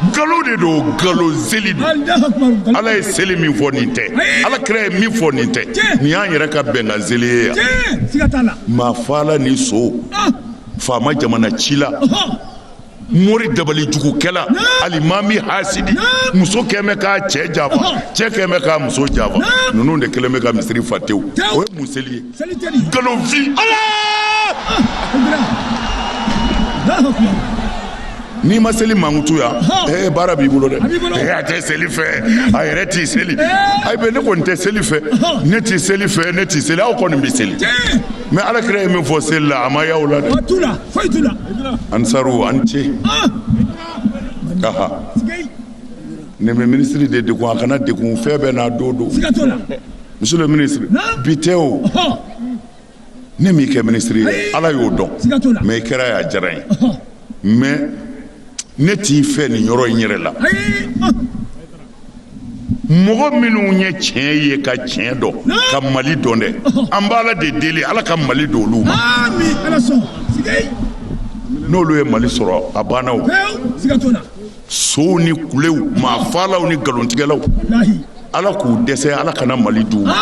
nkalon de don nkalon seli don ala ye seli min fɔ nin tɛ ala kira ye min fɔ nin tɛ nin y'an yɛrɛ ka bɛnkan seli ye yan maa faala ni son faama jamana cila mori dabali jugukɛla alimami hasidi muso kɛn bɛ k'a cɛ janfa cɛ kɛn bɛ k'a muso janfa ninnu de kɛlen bɛ ka misiri fa tewu o ye mun seli ye nkalonfin n'i ma seli mankutu yan baara b'i bolo dɛ a tɛ seli fɛ a yɛrɛ tɛ seli a bɛ ne kɔni tɛ seli fɛ ne tɛ seli fɛ ne tɛ seli aw kɔni bɛ seli mais ala kira ye min fɔ seli la a ma y'aw la dɛ ansaru an ce ne bɛ minisiri de degun a kana degun fɛn bɛɛ n'a don don monsieur le ministre bi tɛ o ne m'i kɛ minisiri ye ala y'o dɔn mais i kɛra y'a diyara n ye mais ne t'i fɛ nin yɔrɔ in yɛrɛ la mɔgɔ minnu ye tiɲɛ ye ka tiɲɛ dɔn ka mali dɔn dɛ an b'ala de deli ala ka mali don olu ma n'olu ye mali sɔrɔ a banna sonw ni kulew maa faalaw ni nkalontigɛlaw ala k'u dɛsɛ ala kana mali di u ma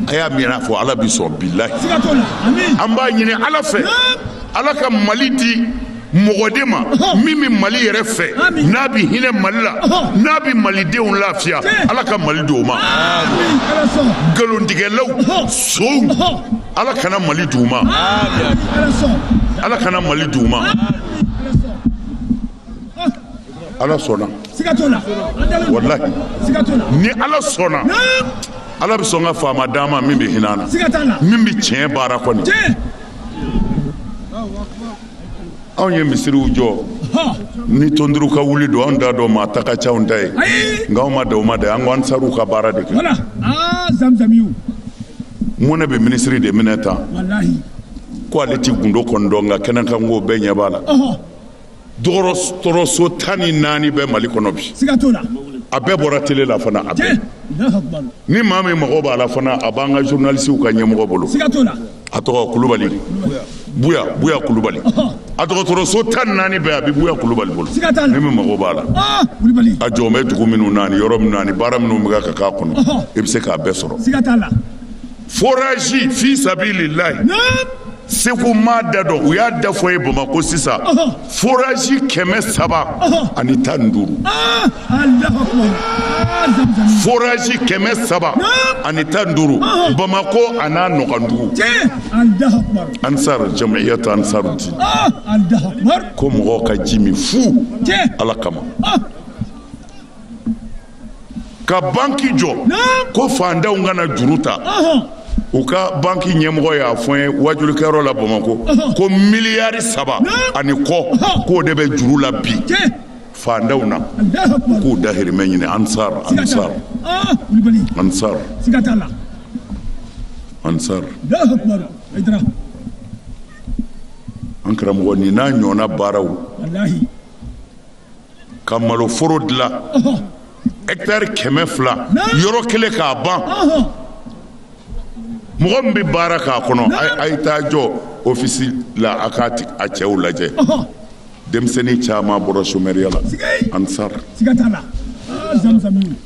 a y'amiina fɔ ala bi sɔn bilahi an b'a ɲini ala fɛ ala ka mali di mɔgɔ de ma min bɛ mali yɛrɛ fɛ n'a bɛ hinɛ mali la n'a bɛ malidenw lafiya ala ka mali di o ma nkalontigɛlaw sonw ala kana mali di u ma ala kana mali di u ma Ala sɔnna ni ala sɔnna ala bɛ sɔn ka faama d'an ma min bɛ hinɛ an na min bɛ tiɲɛ baara kɔni anw ye misiriw jɔ ni tonduru ka wuli don anw t'a dɔn maa ta ka ca anw ta ye nka anw ma da o ma de an ko ansariw ka baara de kɛ mun ne bɛ minisiri de minɛ tan ko ale tɛ gundo kɔni dɔn nka kɛnɛ kan ko bɛɛ ɲɛ b'a la dɔgɔtɔrɔso tan ni naani bɛ mali kɔnɔ bi a bɛɛ bɔra tele la fana a bɛɛ ni maa min mago b'a la fana a b'an ka zurunalisiw ka ɲɛmɔgɔ bolo a tɔgɔ kulubali buya buya kulubali a dɔgɔtɔrɔso tan ni naani bɛɛ a bɛ buya kulubali bolo ni min mago b'a la a jɔlen bɛ dugu minnu na ani yɔrɔ minnu na ani baara minnu bɛ ka k'a kɔnɔ i bɛ se k'a bɛɛ sɔrɔ Forazi fi sabilillahi segu n m'a da dɔn u y'a da fɔ n ye bamakɔ sisan forazi kɛmɛ saba ani tan duuru forazi kɛmɛ saba ani tan duuru bamakɔ a n'a nɔkandugu ansar jamiyatu ansarudin ko mɔgɔw ka ji min fu ala kama ka banki jɔ ko fantanw ka na juru ta u ka banki ɲɛmɔgɔ y'a fɔ n ye wajulikɛyɔrɔ la bamakɔ ko miliyari saba ani kɔ k'o de bɛ juru la bi fantanw na k'u dahirimɛ ɲini ansar ansar ansar ansar an karamɔgɔ nin n'a ɲɔgɔnna baaraw ka maloforo dilan ɛkitari kɛmɛ fila yɔrɔ kelen k'a ban mɔgɔ min bɛ baara k'a kɔnɔ a ye taa jɔ ofisi la a k'a a cɛw lajɛ denmisɛnnin caman bɔra somɛriya la ansari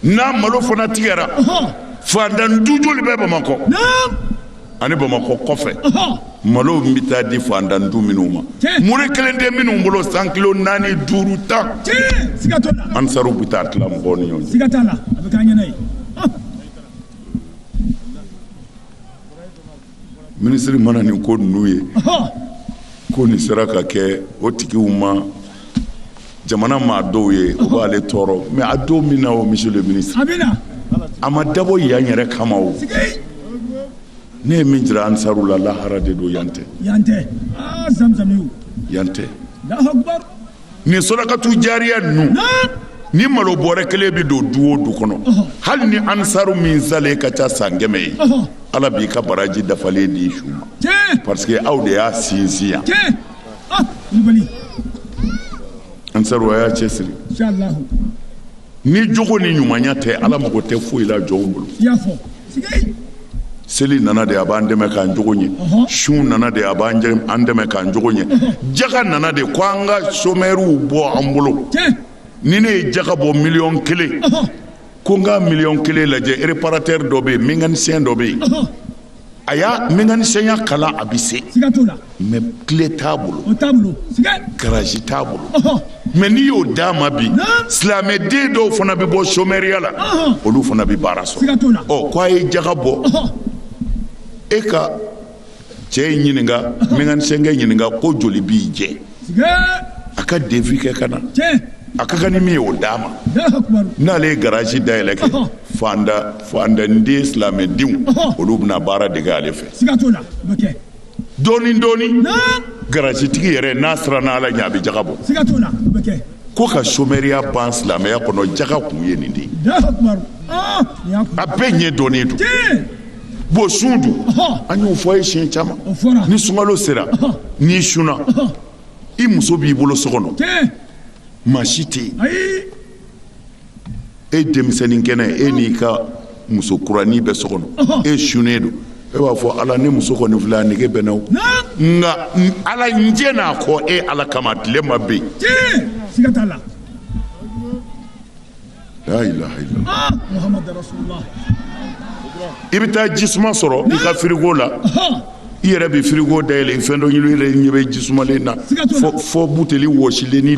n'a malo fana tigɛra fantan du joli bɛ bamakɔ ani bamakɔ kɔfɛ malo bɛ taa di fantan du minnu ma mure kelen tɛ minnu bolo cent kilo naani duuru tan ansaru bɛ taa tila mɔgɔw ni ɲɔgɔn cɛ minisiri mana nin ko ninnu ye ko nin sera ka kɛ o tigiw ma jamana maa dɔw ye o b'ale tɔɔrɔ mais a don min na o monsieur le ministre a ma dabɔ yan yɛrɛ kama o ne ye min jira ansaru la lahara de don yan tɛ ah nin sadakatu jariya ninnu ni malo bɔrɛ kelen bɛ don du o du kɔnɔ hali ni ansaru min salen ka ca san kɛmɛ ye ala b'i ka baraji dafalen di su ma parce que aw de y'a sinsin yan ansaru a y'a cɛ siri ni jogo ni ɲumanya tɛ ala mago tɛ foyi la jɔnw bolo seli nana de a b'an dɛmɛ k'an jogo ɲɛ sun nana de a b'an dɛmɛ k'an jogo ɲɛ jaka nana de ko an ka somɛriw bɔ an bolo ni ne ye jaka bɔ miliyɔn kelen ko n ka miliyɔn kelen lajɛ ereparatɛri dɔ bɛ yen mekanisiyɛn dɔ bɛ yen a y'a mekanisiyɛnya kalan a bɛ se mais kile t'a bolo garaji t'a bolo mais n'i y'o d'a ma bi silamɛden dɔw fana bɛ bɔ somɛriya la olu fana bɛ baara sɔrɔ ɔ ko a ye jaga bɔ e ka cɛ in ɲininka mekanisiyɛnkɛ ɲininka ko joli b'i jɛ a ka devis kɛ ka na a ka kan ni min ye o d'a ma n'ale ye garaji da yɛlɛ kɛ fandanden silamɛdenw olu bɛna baara dege ale fɛ dɔɔnin dɔɔnin garajitigi yɛrɛ n'a siranna ala ɲɛ a bɛ jaga bɔ ko ka somɛriya ban silamɛya kɔnɔ jaga kun ye nin de ye a bɛɛ ɲɛdɔnnen don Bon sun dun an y'o fɔ a ye siɲɛ caman ni sunkalo sera n'i sunna i muso b'i bolo so kɔnɔ maa si tɛ yen e denmisɛnnin kɛnɛ e n'i ka muso kuranin bɛ so kɔnɔ e sunnen don e b'a fɔ ala ne muso kɔni filɛ a nege bɛ n na o nka ala n jɛnn'a kɔ e ala kama tilema bɛ yen i bɛ taa ji suma sɔrɔ i ka firigo la i yɛrɛ bɛ firigo da yɛlɛ fɛn dɔ ɲini i ɲɛ bɛ ji sumalen na fɔ buteli wɔsilenin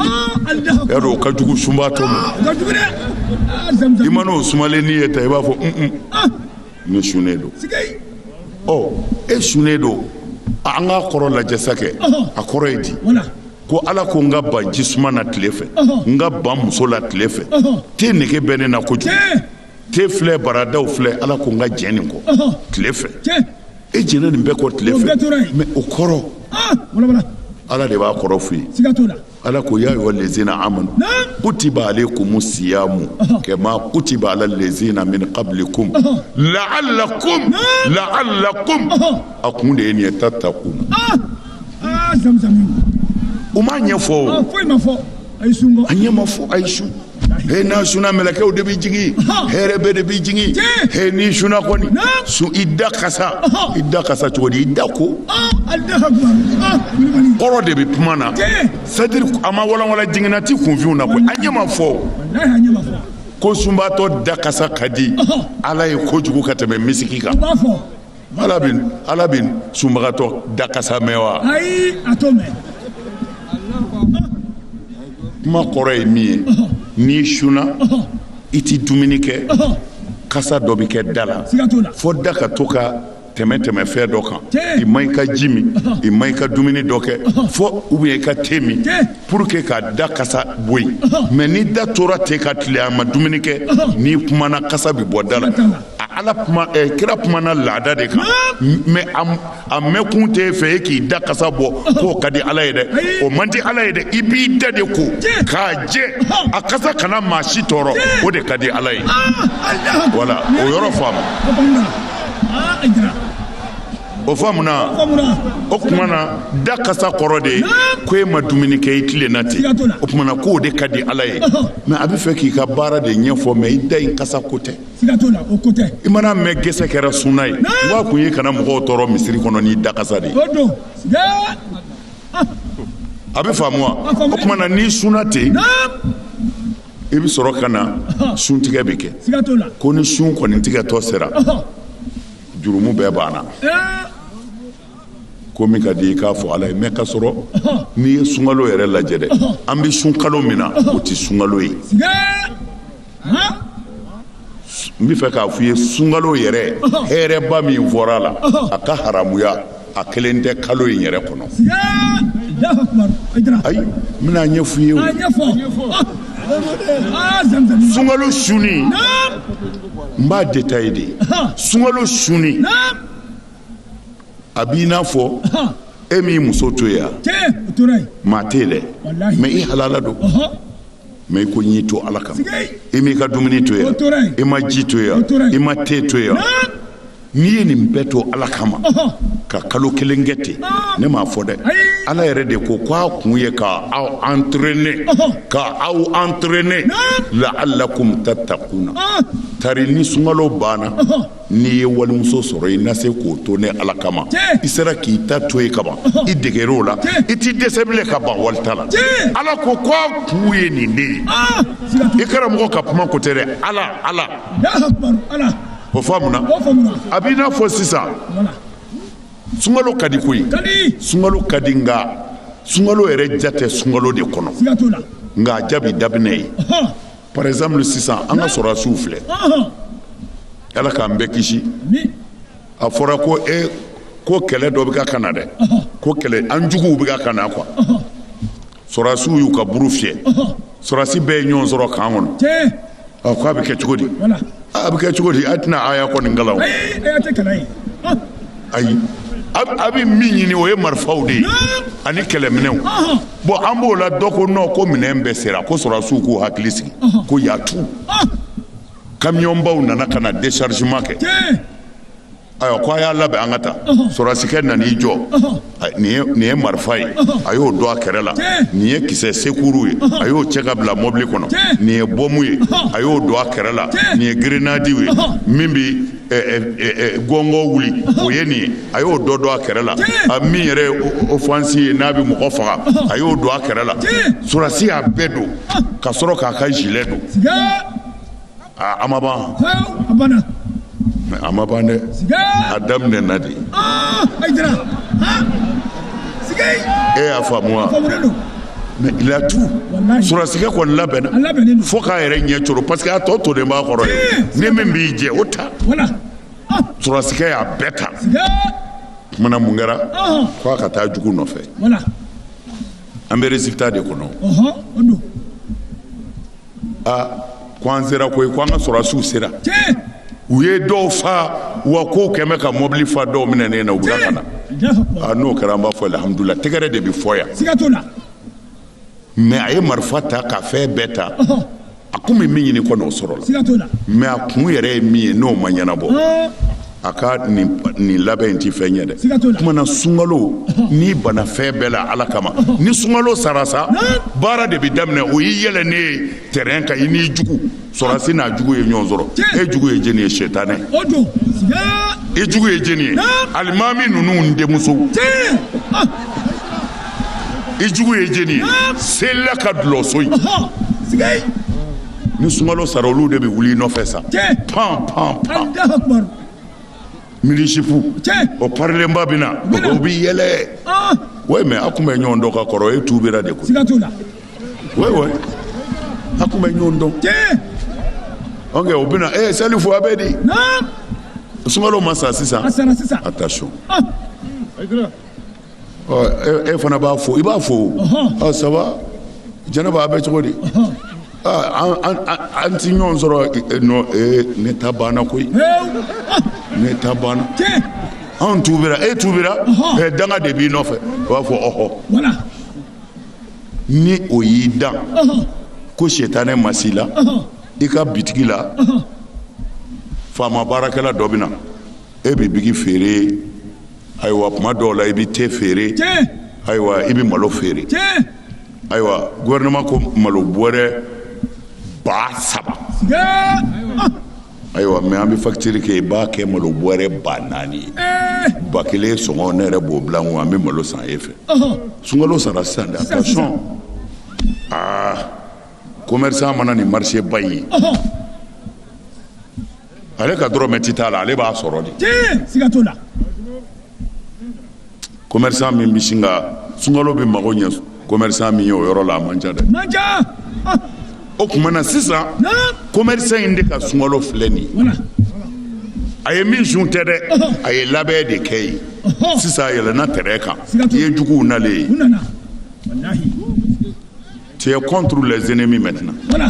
o ka jugu sunbatɔ ma i mana o sumalennin ye ta i b'a fɔ ne sunnen don e sunnen don an k'a kɔrɔ lajɛ sa kɛ a kɔrɔ ye di ko ala ko n ka ban jisuma na tile fɛ n ka ban muso la tile fɛ te nege bɛ ne na kojugu te filɛ baradaw filɛ ala ko n ka jɛn nin kɔ tile fɛ e jɛnna nin bɛɛ kɔ tile fɛ mais o kɔrɔ ala de b'a kɔrɔ f'i ye ala ko ya ayyuha allazina amanu kutiba alaykum siyamu kama kutiba ala allazina min qablikum la'allakum a kun de ye nin ye tattaqun o ma ɲɛfɔ a ɲɛ ma fɔ a ye sun he n'a sunna mɛlɛkɛw de bɛ jigin hɛrɛ bɛɛ de bɛ jigin he n'i sunna kɔni i da kasa i da kasa cogo di i da ko kɔrɔ de bɛ kuma na c'est-à-dire a ma walanwalan jiginna ti kunfinw na koyi a ɲɛ ma fɔ ko sunbaatɔ da kasa ka di ala ye kojugu ka tɛmɛ misiki kan Ala bɛ ala bɛ sunbagatɔ da kasa mɛn wa kuma kɔrɔ ye min ye n'i sunna i tɛ dumuni kɛ kasa dɔ bɛ kɛ da la fo da ka to ka tɛmɛ tɛmɛ fɛn dɔ kan i ma i ka ji min i ma i ka dumuni dɔ kɛ fɔ ou bien i ka te min pour que ka da kasa bɔ yen mais ni da tora ten ka tile a ma dumuni kɛ n'i kumana kasa bɛ bɔ da la ala kira kumana laada de kan mais a mɛnkun tɛ fɛ e k'i da kasa bɔ k'o ka di ala ye dɛ o man di ala ye dɛ i b'i da de ko k'a jɛ a kasa kana maa si tɔɔrɔ o de ka di ala ye voilà o yɔrɔ faamu o faamuna o tuma na da kasa kɔrɔ de ko e ma dumuni kɛ i tilenna ten o tuma na k'o de ka di ala ye mais a bɛ fɛ k'i ka baara de ɲɛfɔ mais i da in kasa ko tɛ I mana mɛn gɛsɛ kɛra sunna ye wa kun ye kana mɔgɔw tɔɔrɔ misiri kɔnɔ n'i da kasa de a bɛ faamu wa o tuma na n'i sunna ten i bɛ sɔrɔ ka na suntigɛ bɛ kɛ ko ni sun kɔni tigɛtɔ sera jurumu bɛɛ banna ko min ka di i k'a fɔ ala ye mais ka sɔrɔ n'i ye sunkalo yɛrɛ lajɛ dɛ an bɛ sunkalo min na o tɛ sunkalo ye n bɛ fɛ k'a fɔ i ye sunkalo yɛrɛ hɛrɛba min fɔra a la a ka haramuya a kelen tɛ kalo in yɛrɛ kɔnɔ ayi n bɛna a ɲɛfɔ i ye sunkalo suni n b'a détaillé de sunkalo suni a b'i n'a fɔ e m'i muso to yan maa tɛ yen dɛ mais i halala don mais i ko n y'i to ala kama i m'i ka dumuni to yan i ma ji to yan i ma te to yan n'i ye nin bɛɛ to ala kama ka kalo kelen kɛ ten ne m'a fɔ dɛ ala yɛrɛ de ko ko a kun ye ka aw entraîner ka aw entraîner la'alakum tatakuna tari ni sunkalo banna n'i ye walimuso sɔrɔ i na se k'o to ne ala kama i sera k'i ta to yen kaban i degera o la i t'i dɛsɛ bilen ka ban walita la ala ko ko a kun ye nin de ye ah, i karamɔgɔ ka kuma ko tɛ dɛ ala ala o faamuna a b'i n'a fɔ sisan sunkalo ka di koyi sunkalo ka di nka sunkalo yɛrɛ diya tɛ sunkalo de kɔnɔ nka a diya bi daminɛ yen par exemple sisan an ka sɔrɔdasiw filɛ ala k'an bɛɛ kisi a fɔra ko e ko kɛlɛ dɔ bɛ ka ka na dɛ ko kɛlɛ an juguw bɛ ka ka na quoi sɔrɔdasiw y'u ka buru fiyɛ sɔrɔdasi bɛɛ ye ɲɔgɔn sɔrɔ kan kɔnɔ ko a bɛ kɛ cogo di a bɛ kɛ cogo di a tɛna aya kɔni kalan ayi a bɛ min ɲini o ye marifaw de ye ani kɛlɛminɛnw bon an b'o la dɔ ko non ko minɛn bɛɛ sera ko sɔrɔdasiw k'u hakili sigi ko y a tout kamiyɔnbaw nana ka na déchargement kɛ ayiwa ko a y'a labɛn an ka taa sɔrɔdasikɛ nan'i jɔ nin ye marifa ye a y'o don a kɛrɛ la nin ye kisɛ sekuru ye a y'o cɛ ka bila mɔbili kɔnɔ nin ye bɔmu ye a y'o don a kɛrɛ la nin ye grinadiw ye min bɛ gɔngɔ wuli o ye nin ye a y'o dɔ don a kɛrɛ la a min yɛrɛ ye ofansi ye n'a bɛ mɔgɔ faga a y'o don a kɛrɛ la sɔrɔdasi y'a bɛɛ don ka sɔrɔ k'a ka gilet don a ma ban mais a ma ban dɛ a daminɛna de e y'a faamu wa mais il a tout sɔrɔdasikɛ kɔni labɛnna fo k'a yɛrɛ ɲɛ coro parce que a tɔ tolen b'a kɔrɔ dɛ ni min b'i jɛ o ta sɔrɔdasikɛ y'a bɛɛ ta maintenant mun kɛra fo a ka taa jugu nɔfɛ an bɛ résultat de kɔnɔ aa ko an sera koyi ko an ka sɔrɔdasiw sera u ye dɔw faa wa ko kɛmɛ ka mɔbili fa dɔw minɛnen na u bila ka na aa n'o kɛra an b'a fɔ alhamdulila tɛgɛrɛ de bɛ fɔ yan mais a ye marifa ta ka fɛn bɛɛ ta a kun bɛ min ɲini kɔni o sɔrɔla mais a kun yɛrɛ ye min ye n'o ma ɲɛnabɔ a ka nin labɛn in tɛ fɛn ye dɛ tuma na sunkalo ni bana fɛn bɛɛ la ala kama ni sunkalo sara sa baara de bɛ daminɛ o y'i yɛlɛ ne ye terrain kan i n'i jugu sɔrɔsi n'a jugu ye ɲɔgɔn sɔrɔ e jugu ye jeni ye sɛtanɛ e jugu ye jeni ye alimami ninnu denmuso i jugu ye jeni ye sela ka dulɔso ye ni sunkalo sara olu de bɛ wuli i nɔfɛ sa pan pan pan mini-jupe o parilenba bɛ na o bɛ yɛlɛ ah. oui mais a tun bɛ ɲɔgɔn dɔn ka kɔrɔ e tuubira de koyi siga t'o la oui oui a tun bɛ ɲɔgɔn dɔn ok o bɛ na ee salifu a bɛ di sunkalo ma sa sisan a sara sisan attention ah. e fana b'a fo i b'a fo ça va jɛnɛba a bɛ cogo di an tɛ ɲɔgɔn sɔrɔ ne ta banna koyi ne ta banna an tuubira e tuubira danga de b'i nɔfɛ u b'a fɔ ɔɔ ni o y'i dan ko sɛtanɛ ma s'i la i ka bitigi la faama baarakɛla dɔ bɛ na e bɛ biki feere ayiwa tuma dɔw la i bɛ te feere ayiwa i bɛ malo feere ayiwa gouvernement ko malo bɔrɛ ba saba ayiwa mais an bɛ facture kɛ i b'a kɛ malo bɔrɛ ba naani ye ba kelen sɔngɔ ne yɛrɛ b'o bila an bɛ malo san e fɛ sunkalo sara sisan de attention commerçant mana nin marché ba in ye ale ka dɔrɔmɛ tɛ t'a la ale b'a sɔrɔ de commerçant min bɛ sin ka sunkalo bɛɛ mago ɲɛ commerçant min ye o yɔrɔ la a man ca dɛ o tuma na sisan commerçant in de ka sunkalo filɛ nin ye a ye min sun tɛ dɛ a ye labɛn de kɛ ye sisan a yɛlɛnna terrain kan i ye juguw nalen ye Tu es contre les ennemis maintenant. Voilà.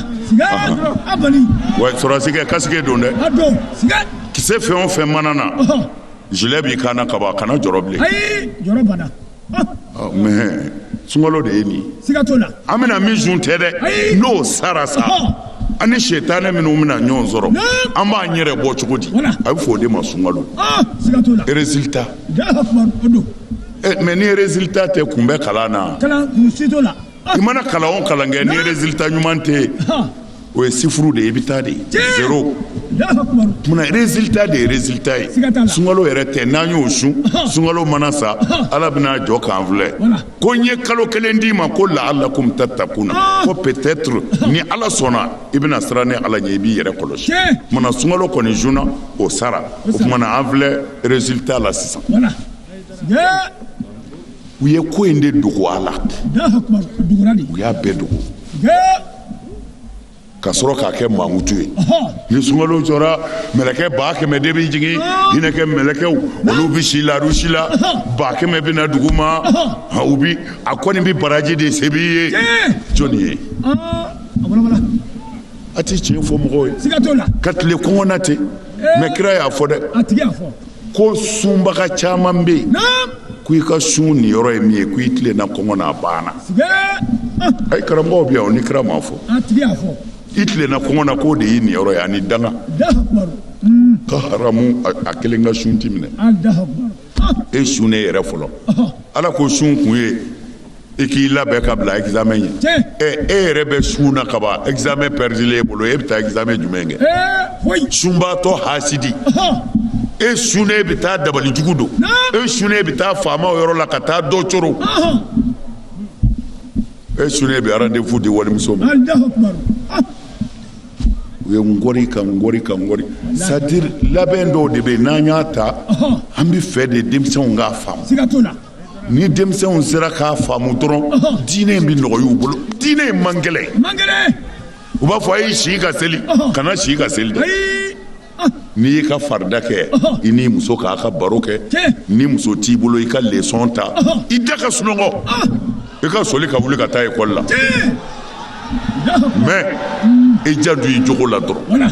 Ouais, sɔrɔsi kɛ kasike don dɛ. A don. Kisɛ fɛn o fɛn mana na. Gilet b'i kan na ka ban, a kana jɔrɔ bilen. Ayi, jɔrɔ banna. Mais sunkalo de ye nin ye. Siga t'o la. An bɛna min sun tɛ dɛ. Ayi. N'o sara sa. An ni sɛtanɛ minnu bɛna ɲɔgɔn sɔrɔ. An b'an yɛrɛ bɔ cogo di? Voilà. A bɛ fɔ o de ma sunkalo. Siga t'o la. Résultat. Alahu akibaru, o don. Mais ni résultat tɛ, kun bɛ kalan na. Kalan, si t'o la. i mana kalan o kalan kɛ ni résultat ɲuman tɛ yen o ye sifuru de ye i bɛ taa de zero o tuma na résultat de ye résultat ye sunkalo yɛrɛ tɛ n'an y'o sun sunkalo mana sa Ala bɛna jɔ k'an filɛ ko n ye kalo kelen d'i ma ko la'allakum tattaquna ko peut-être ni Ala sɔnna i bɛna siran ne Ala ɲɛ i b'i yɛrɛ kɔlɔsi o tuma na sunkalo kɔni sunna o sara o tuma na an filɛ résultat la sisan. u ye ko in de dogo a la u y'a bɛɛ dogo ka sɔrɔ k'a kɛ mankutu ye ni sunkalo jɔra mɛlɛkɛ ba kɛmɛ de bɛ jigin hinɛkɛ mɛlɛkɛw olu bɛ si la arusi la ba kɛmɛ bɛ na dugu ma u bi a kɔni bɛ baraji de sɛbɛn i ye jɔni ye a tɛ tiɲɛ fɔ mɔgɔw ye ka tile kɔngɔ na ten mais kira y'a fɔ dɛ ko sunbaga caman bɛ yen ko i ka sun niyɔrɔ ye min ye ko i tilenna kɔngɔ na a banna ayi karamɔgɔw bɛ yan o ni kira m'a fɔ i tilenna kɔngɔ na k'o de y'i niyɔrɔ ye ani danga ka haramu a kelen ka sun ti minɛ e sunnen yɛrɛ fɔlɔ ala ko sun kun ye i k'i labɛn ka bila examen ɲɛ e yɛrɛ bɛ sun na kaban examen pɛridilen e bolo e bɛ taa examen jumɛn kɛ sunbaatɔ hasidi e sunnen e bɛ taa dabali jugu don e sunnen e bɛ taa faamaw yɔrɔ la ka taa dɔ coro e sunnen e bɛ rendez-vous di walimuso ma u ye ngɔri ka ngɔri ka ngɔri c'est-à-dire labɛn dɔw de bɛ yen n'an y'a ta an b'a fɛ de denmisɛnw k'a faamu ni denmisɛnw sera k'a faamu dɔrɔn diinɛ in bɛ nɔgɔy'u bolo diinɛ in man gɛlɛn u b'a fɔ a ye si ka seli kana si ka seli dɛ n'i y'i ka farida kɛ i n'i muso k'a ka baro kɛ ni muso t'i bolo i ka leçon ta i da ka sunɔgɔ i ka soli ka wuli ka taa école la mais i janto i jogo la dɔrɔn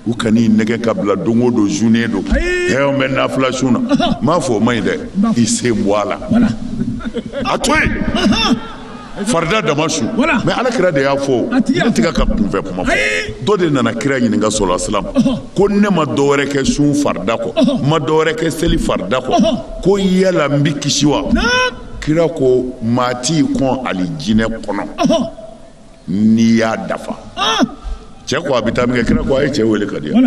u kan'i nɛgɛn ka bila don o don journée don an bɛ nafila sun na n m'a fɔ o man ɲi dɛ i sen bɔ a la a to yen farida dama sun mais ala kira de y'a fɔ ne tɛ ka kunfɛ kuma fɔ dɔ de nana kira ɲininka sala salam ko ne ma dɔwɛrɛ kɛ sun farida kɔ n ma dɔwɛrɛ kɛ seli farida kɔ ko yala n bɛ kisi wa kira ko maa t'i kɔn alijinɛ kɔnɔ n'i y'a dafa ah! cɛ ko a bɛ taa minkɛ kira ko a ye cɛ wele ka di yan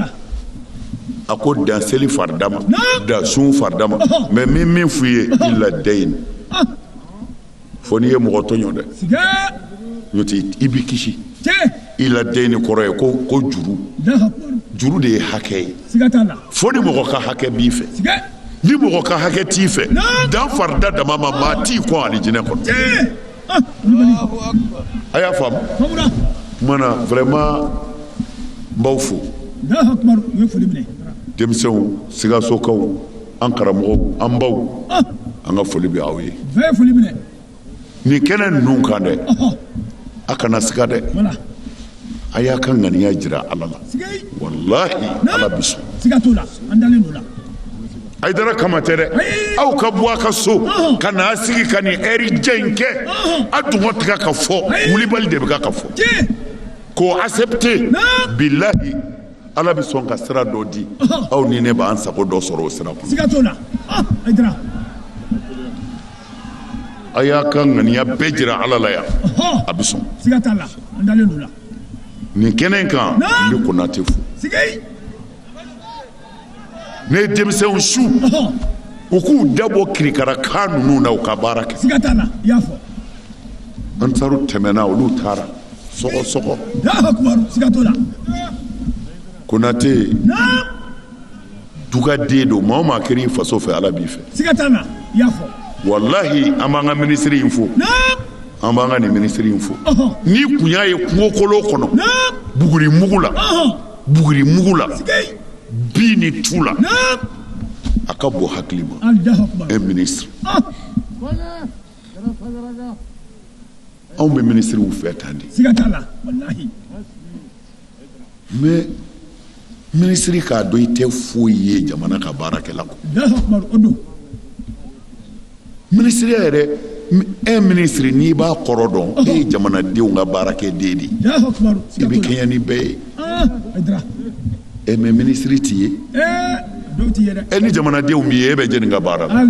a ko dan seli farida ma dan sun farida ma mais min min f'i ye illa dayni ah! fo n'i ye mɔgɔ tɔɲɔ dɛ n'o tɛ i bi kisi illa dayni kɔrɔ ye ko ko juru juru de ye hakɛ ye fo ni mɔgɔ ka hakɛ b'i fɛ ni mɔgɔ ka hakɛ t'i fɛ dan farida dama ma maa t'i kɔn alijinɛ kɔnɔ A y'a faamu mana vraiment n b'aw fo denmisɛnw Sikasokaw an karamɔgɔw an baw an ka foli bɛ aw ye nin kɛnɛ ninnu kan dɛ a kana siga dɛ a y'a ka ŋaniya jira ala la walahi ala bɛ sɔn Haïdara kama tɛ dɛ aw ka bɔ a ka so ka na a sigi ka nin heure jan in kɛ a dungɔ tigɛ ka fɔ wulibali de bɛ ka ka fɔ k'o accepter bilahi ala bɛ sɔn ka sira dɔ di aw ni ne b'an sago dɔ sɔrɔ o sira kɔnɔ a y'a ka ŋaniya bɛɛ jira Ala la yan, ɔhɔ, a bɛ sɔn, siga t'a la, an dalen don o la, nin kɛnɛ in kan, naamu, n bɛ Konate fo, sikeyi, ne ye denmisɛnw su, ɔhɔ, u k'u dabɔ kirikara kan ninnu na u ka baara kɛ, siga t'a la, i y'a fɔ, Ansaru tɛmɛna olu taara sɔgɔ sɔgɔ, Alahu akibaru, siga t'o la, Konate naamu. dugaden don maa o maa kɛra i faso fɛ ala b'i fɛ siga t'a la i y'a fɔ walahi an b'an ka minisiri in fo an b'an ka nin minisiri in fo n'i kun y'a ye kungokolon kɔnɔ buguri mugu la buguri mugu la bin ni tu la a ka bon hakili ma un ministre anw bɛ minisiriw fɛ tan de siga t'a la walahi mais minisiri k'a dɔn i tɛ foyi ye jamana ka baarakɛla kɔ o don minisiriya yɛrɛ e minisiri n'i b'a kɔrɔ dɔn e ye jamanadenw ka baarakɛden de ye i bɛ kɛɲɛ ni bɛɛ ye ah, mais minisiri t'i ye eh, e ni jamanadenw b'i ye e bɛ jɛni ka baara la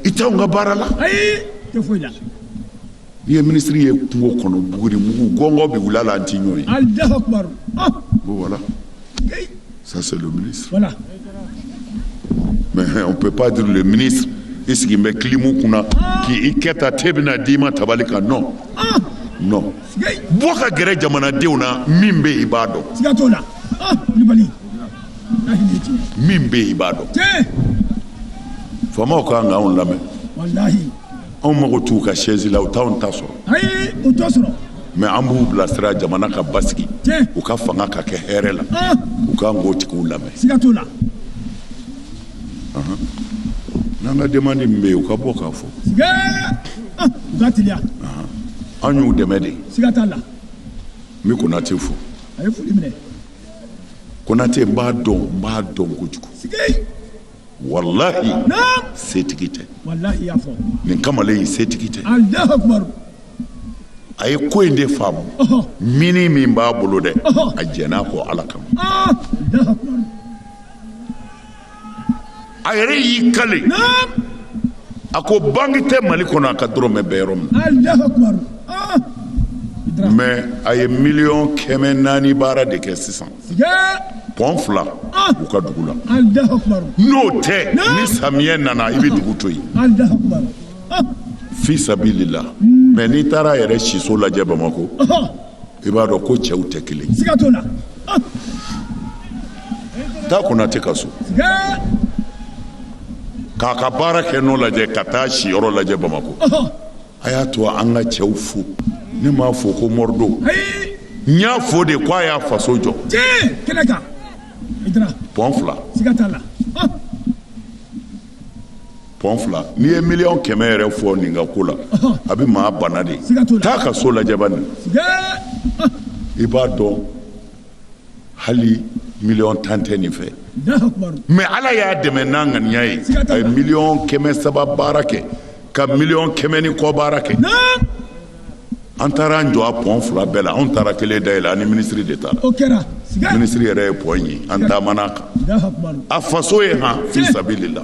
i t'anw ka baara la ayi tɛ foyi la n'i ye minisiri ye kungo kɔnɔ buguri mugu gɔngɔ bɛ wuli a la an t'i ɲɔ ye alahu akubar ah bon voilà ça c'est le ministre voilà mais hein, on peut pas dire le ministre i sigilen bɛ kilimu kunna k'i i kɛ ta te bɛna d'i ma tabali kan non ah non sigi bɔ ka gɛrɛ jamanadenw na min bɛ yen i b'a dɔn siga t'o la ah kulibali min bɛ yen i b'a dɔn faamaw ka kan k'anw lamɛn anw mago t'u ka chaise la u t'anw ta sɔrɔ mais an b'u bilasira jamana ka basigi u ka fanga ka kɛ hɛrɛ la ah. u ka kan k'o tigiw lamɛn n'an ka demande min bɛ yen u ka bɔ k'a fɔ ah, an y'u dɛmɛ de n bɛ konate fo konatɛ n b'a dɔn n b'a dɔn kojugu walahi setigi tɛ nin kamalen ye setigi tɛ a ye ko in de faamu min ni min b'a bolo dɛ a jɛnn'a kɔ ala kama a yɛrɛ y'i kale a ko banki tɛ mali kɔnɔ a ka dɔrɔmɛ bɛ yɔrɔ min ah! mɛ a ye miliyɔn kɛmɛ naani baara de kɛ sisan pɔn fila ah! u ka dugu la n'o tɛ ni samiyɛ nana i bɛ dugu to yen ah! fi sabilila mɛ n'i taara a yɛrɛ siso lajɛ bamakɔ i b'a dɔn ko cɛw tɛ kelen taa konatɛ ka so k'a ka baara kɛ nɔ lajɛ ka taa si yɔrɔ lajɛ bamakɔ a y'a to an ka cɛw fo ne m'a fɔ ko mori don n y'a fɔ de ko a y'a faso jɔ pɔn fila pɔn fila n'i ye miliyɔn kɛmɛ yɛrɛ fɔ nin ka ko la a bɛ maa bana de taa a ka so lajɛ bani i b'a dɔn hali miliyɔn tan tɛ nin fɛ mɛ ala y'a dɛmɛ n'a ŋaniya ye a ye miliyɔn kɛmɛ saba baara kɛ ka miliyɔn kɛmɛ ni kɔ baara kɛ an taara an jɔ a pɔn fila bɛɛ la anw taara kelen dayɛlɛ an ni minisiri de taara minisiri yɛrɛ ye pɔn ye an taamana a kan a faso ye han fi sabilila